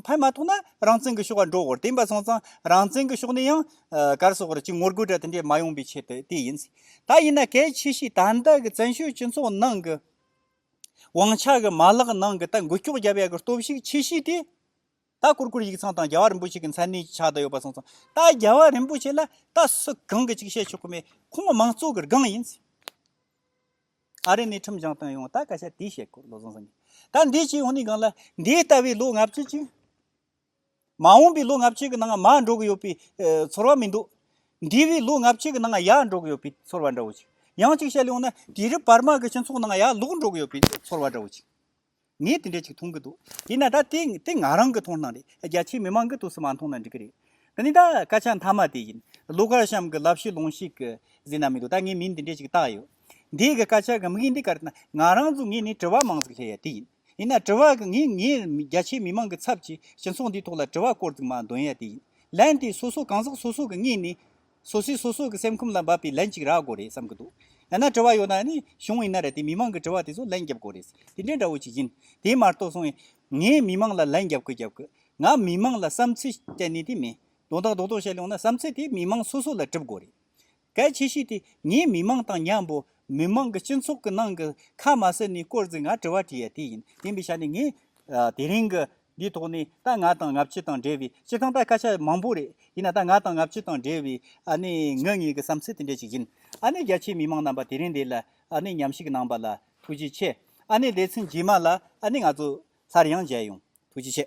ཕན་མ་ཐོགས་ན་རང་བཙན་གྱི་ཤོག་བ་འགྲོ་དགོས་རེད་བསྟན་པ་སོང་ཙང་རང་བཙན་གྱི་ཤོག་ནི་ཡང་བསྐྱར་གསོག་རེད་ཅེས་ངོ་རྒོལ་གྲ་དེ་འདྲས་མ་ཡོང་པའི་ཆེད་དུ་དེ་ཡིན། ད་ཡིན་ན་གལ་ཆེ་ཤོས་ད་ལྟ་གི་བཙན་བྱོལ་སྤྱི་ཚོགས་ནང་གི་དབང་ཆ་གི་མ་ལག་ནང་གི་ད་འགུལ་སྐྱོག་བརྒྱབ་ཡག་གི་སྟོབས་ཤུགས་ཆེ་ཤོས་དེ་ད་གུར་གུར་ཡིག་ཚང་དང་རྒྱལ་བ་རིན་པོ་ཆེ་གི་མཚན་གནས་ཀྱི་ཕྱག་ཏུ་ཡོད་པ་སོང་ཙང་ད་རྒྱལ་བ་རིན་པོ་ཆེ་ལ་ད་སུ་གང་གི་ཅིག་བཤད་ཆོག་གི་མེད་ཁོང་མང་གཙོ་གི་སྒང་ཡིན། ཨ་རི་ནས་ཁྲིམས་སྦྱང་བཏང་ཡོང་ད་སྐད་ཆ་དེ་བཤད་དགོས་བློ་བཟང་སེང་གེ་ད་འདི་ཅི་ཡོང་ནི་གང་ལ་འདི་ལྟ་བུའི་ལོ་ལྔ་བཅུ་གཅིག་མ་འོངས་པའི་ལོ་ལྔ་བཅུ་གི་ནང་མ་འགྲོ་གི་ཡོད་པའི་ཚོར་བ་མི་འདུག་འདི་བས་ལོ་ལྔ་བཅུ་གི་ནང་ཡག་འགྲོ་གི་ཡོད་པའི་ཚོར་བ་འདྲ་བོ་ཅིག་ཡང་གཅིག་བཤད་ཡོང་ན་དེ་རིང་བར་དམག་གི་སྤྱི་ཚོགས་ནང་ཡག་ལུགས་འགྲོ་གི་ཡོད་པའི་ཚོར་བ་འདྲ་བོ་ཅིག་ངས་དེ་འདྲ་ཅིག་མཐོང་གི་འདུག་དེས་ན་ད་དེ་དེ་ང་རང་གི་མཐོང་སྣང་རེད་རྒྱ་ཆེའི་མི་མང་གི་དུས་སུ་མ་མཐོང་ན་འགྲིག་གི་རེད། དེ་ནི་ད་སྐད་ཆ་མཐའ་མ་དེ་ཡིན། ལོ་ཀར་གཤམ་གྱི་ལབ་གཞི་ལོང་ཞིག་གི་ཟིན་ན་མི་འདུག་ད་ངས་མིང་འདི་འདྲ་ཅིག་བཏགས་ཡོད། འདིའི་གི་སྐད་ཆ་གི་དམིགས་ཡུལ་འདི་ག་རེད་ན་ང་རང་ཚོ་ངས་ནི་དྲི་བ་མང་ཙིག་སླེ་ཡ་དེ་ཡིན། ཡིན་ན་དྲི་བ་གི་ངས་ངས་རྒྱ་ཆེའི་མི་མང་གི་ཚབ་ཀྱིས་སྤྱི་ཚོགས་འདིའི་ཐོག་ལ་དྲི་བ་སྐོར་ཙིག་མ་འདོན་ཡ་དེ་ཡིན། ལན་དེ་སོ་སོ་གང་ཟག་སོ་སོ་གི་ངས་ནི་སོ་སོས་སོ་སོ་གི་སེམས་ཁུམས་ལ་འབབ་པའི་ལན་གཅིག་རག་དགོས་རེད་བསམ་གི་འདུག་ཡང་ན་དྲི་བ་ཡོད་ན་ནི་གཞུང་ཡིན་ན་རེད་དེ་མི་མང་གི་དྲི་བ་དེ་ཚོ་ལན་བརྒྱབ་དགོས་རེད་དེ་འདྲའི་འདྲ་བོ་ཞིག་ཡིན་དེ་མ་གཏོགས་སོང་ངས་མི་མང་ལ་ལན་བརྒྱབ་དགོས་བརྒྱབ་དགོས་ང་མི་མང་ལ་བསམ་ཚུལ་བསྟན་ནི་དེ་མིན་དོན་དག་རྡོག་རྡོག་བཤད་ལོང་ན་བསམ་ཚུལ་དེ་མི་མང་སོ་སོ་ལ་གྲུབ་དགོས་རེད་གལ་ཆེ་ཤོས་དེ་ངས་མི་མང་དང་མཉམ་པོ་མི་མང་གི་སྤྱི་ཚོགས་ཀི་ནང་གི་ཁ་མ་སི་ནི་སྐོར་ཟིག་ང་དྲི་བ་དྲིས་ཡ་དེ་ཡིན་ཡིན་པའི་ཆ་ནས་ངས་དེ་རིང་གི་འདིའི་ཐོག་ནས་ད་ང་དང་ང་ཕྱི་དང་འབྲེལ་བའི་སྤྱིར་བཏང་ད་སྐད་ཆ་མང་པོ་རེད་ཡིན་ན་ད་ང་དང་ང་ཕྱི་དང་འབྲེལ་བའི་ངོས་ངེས་ཀྱི་བསམ་ཚུལ་དེ་འདྲ་ཞིག་ཡིན་རྒྱ་ཆེའི་མི་དམངས་རྣམ་པ་དེ་རིང་འདི་ལ་ཉམས་ཞིབ་གནང་པ་ལ་ཐུགས་རྗེ་ཆེ་ལས་ཚན་རྗེས་མ་ལ་ང་ཚོ་སླར་ཡང་མཇལ་ཡོང་ཐུགས་རྗེ་ཆེ།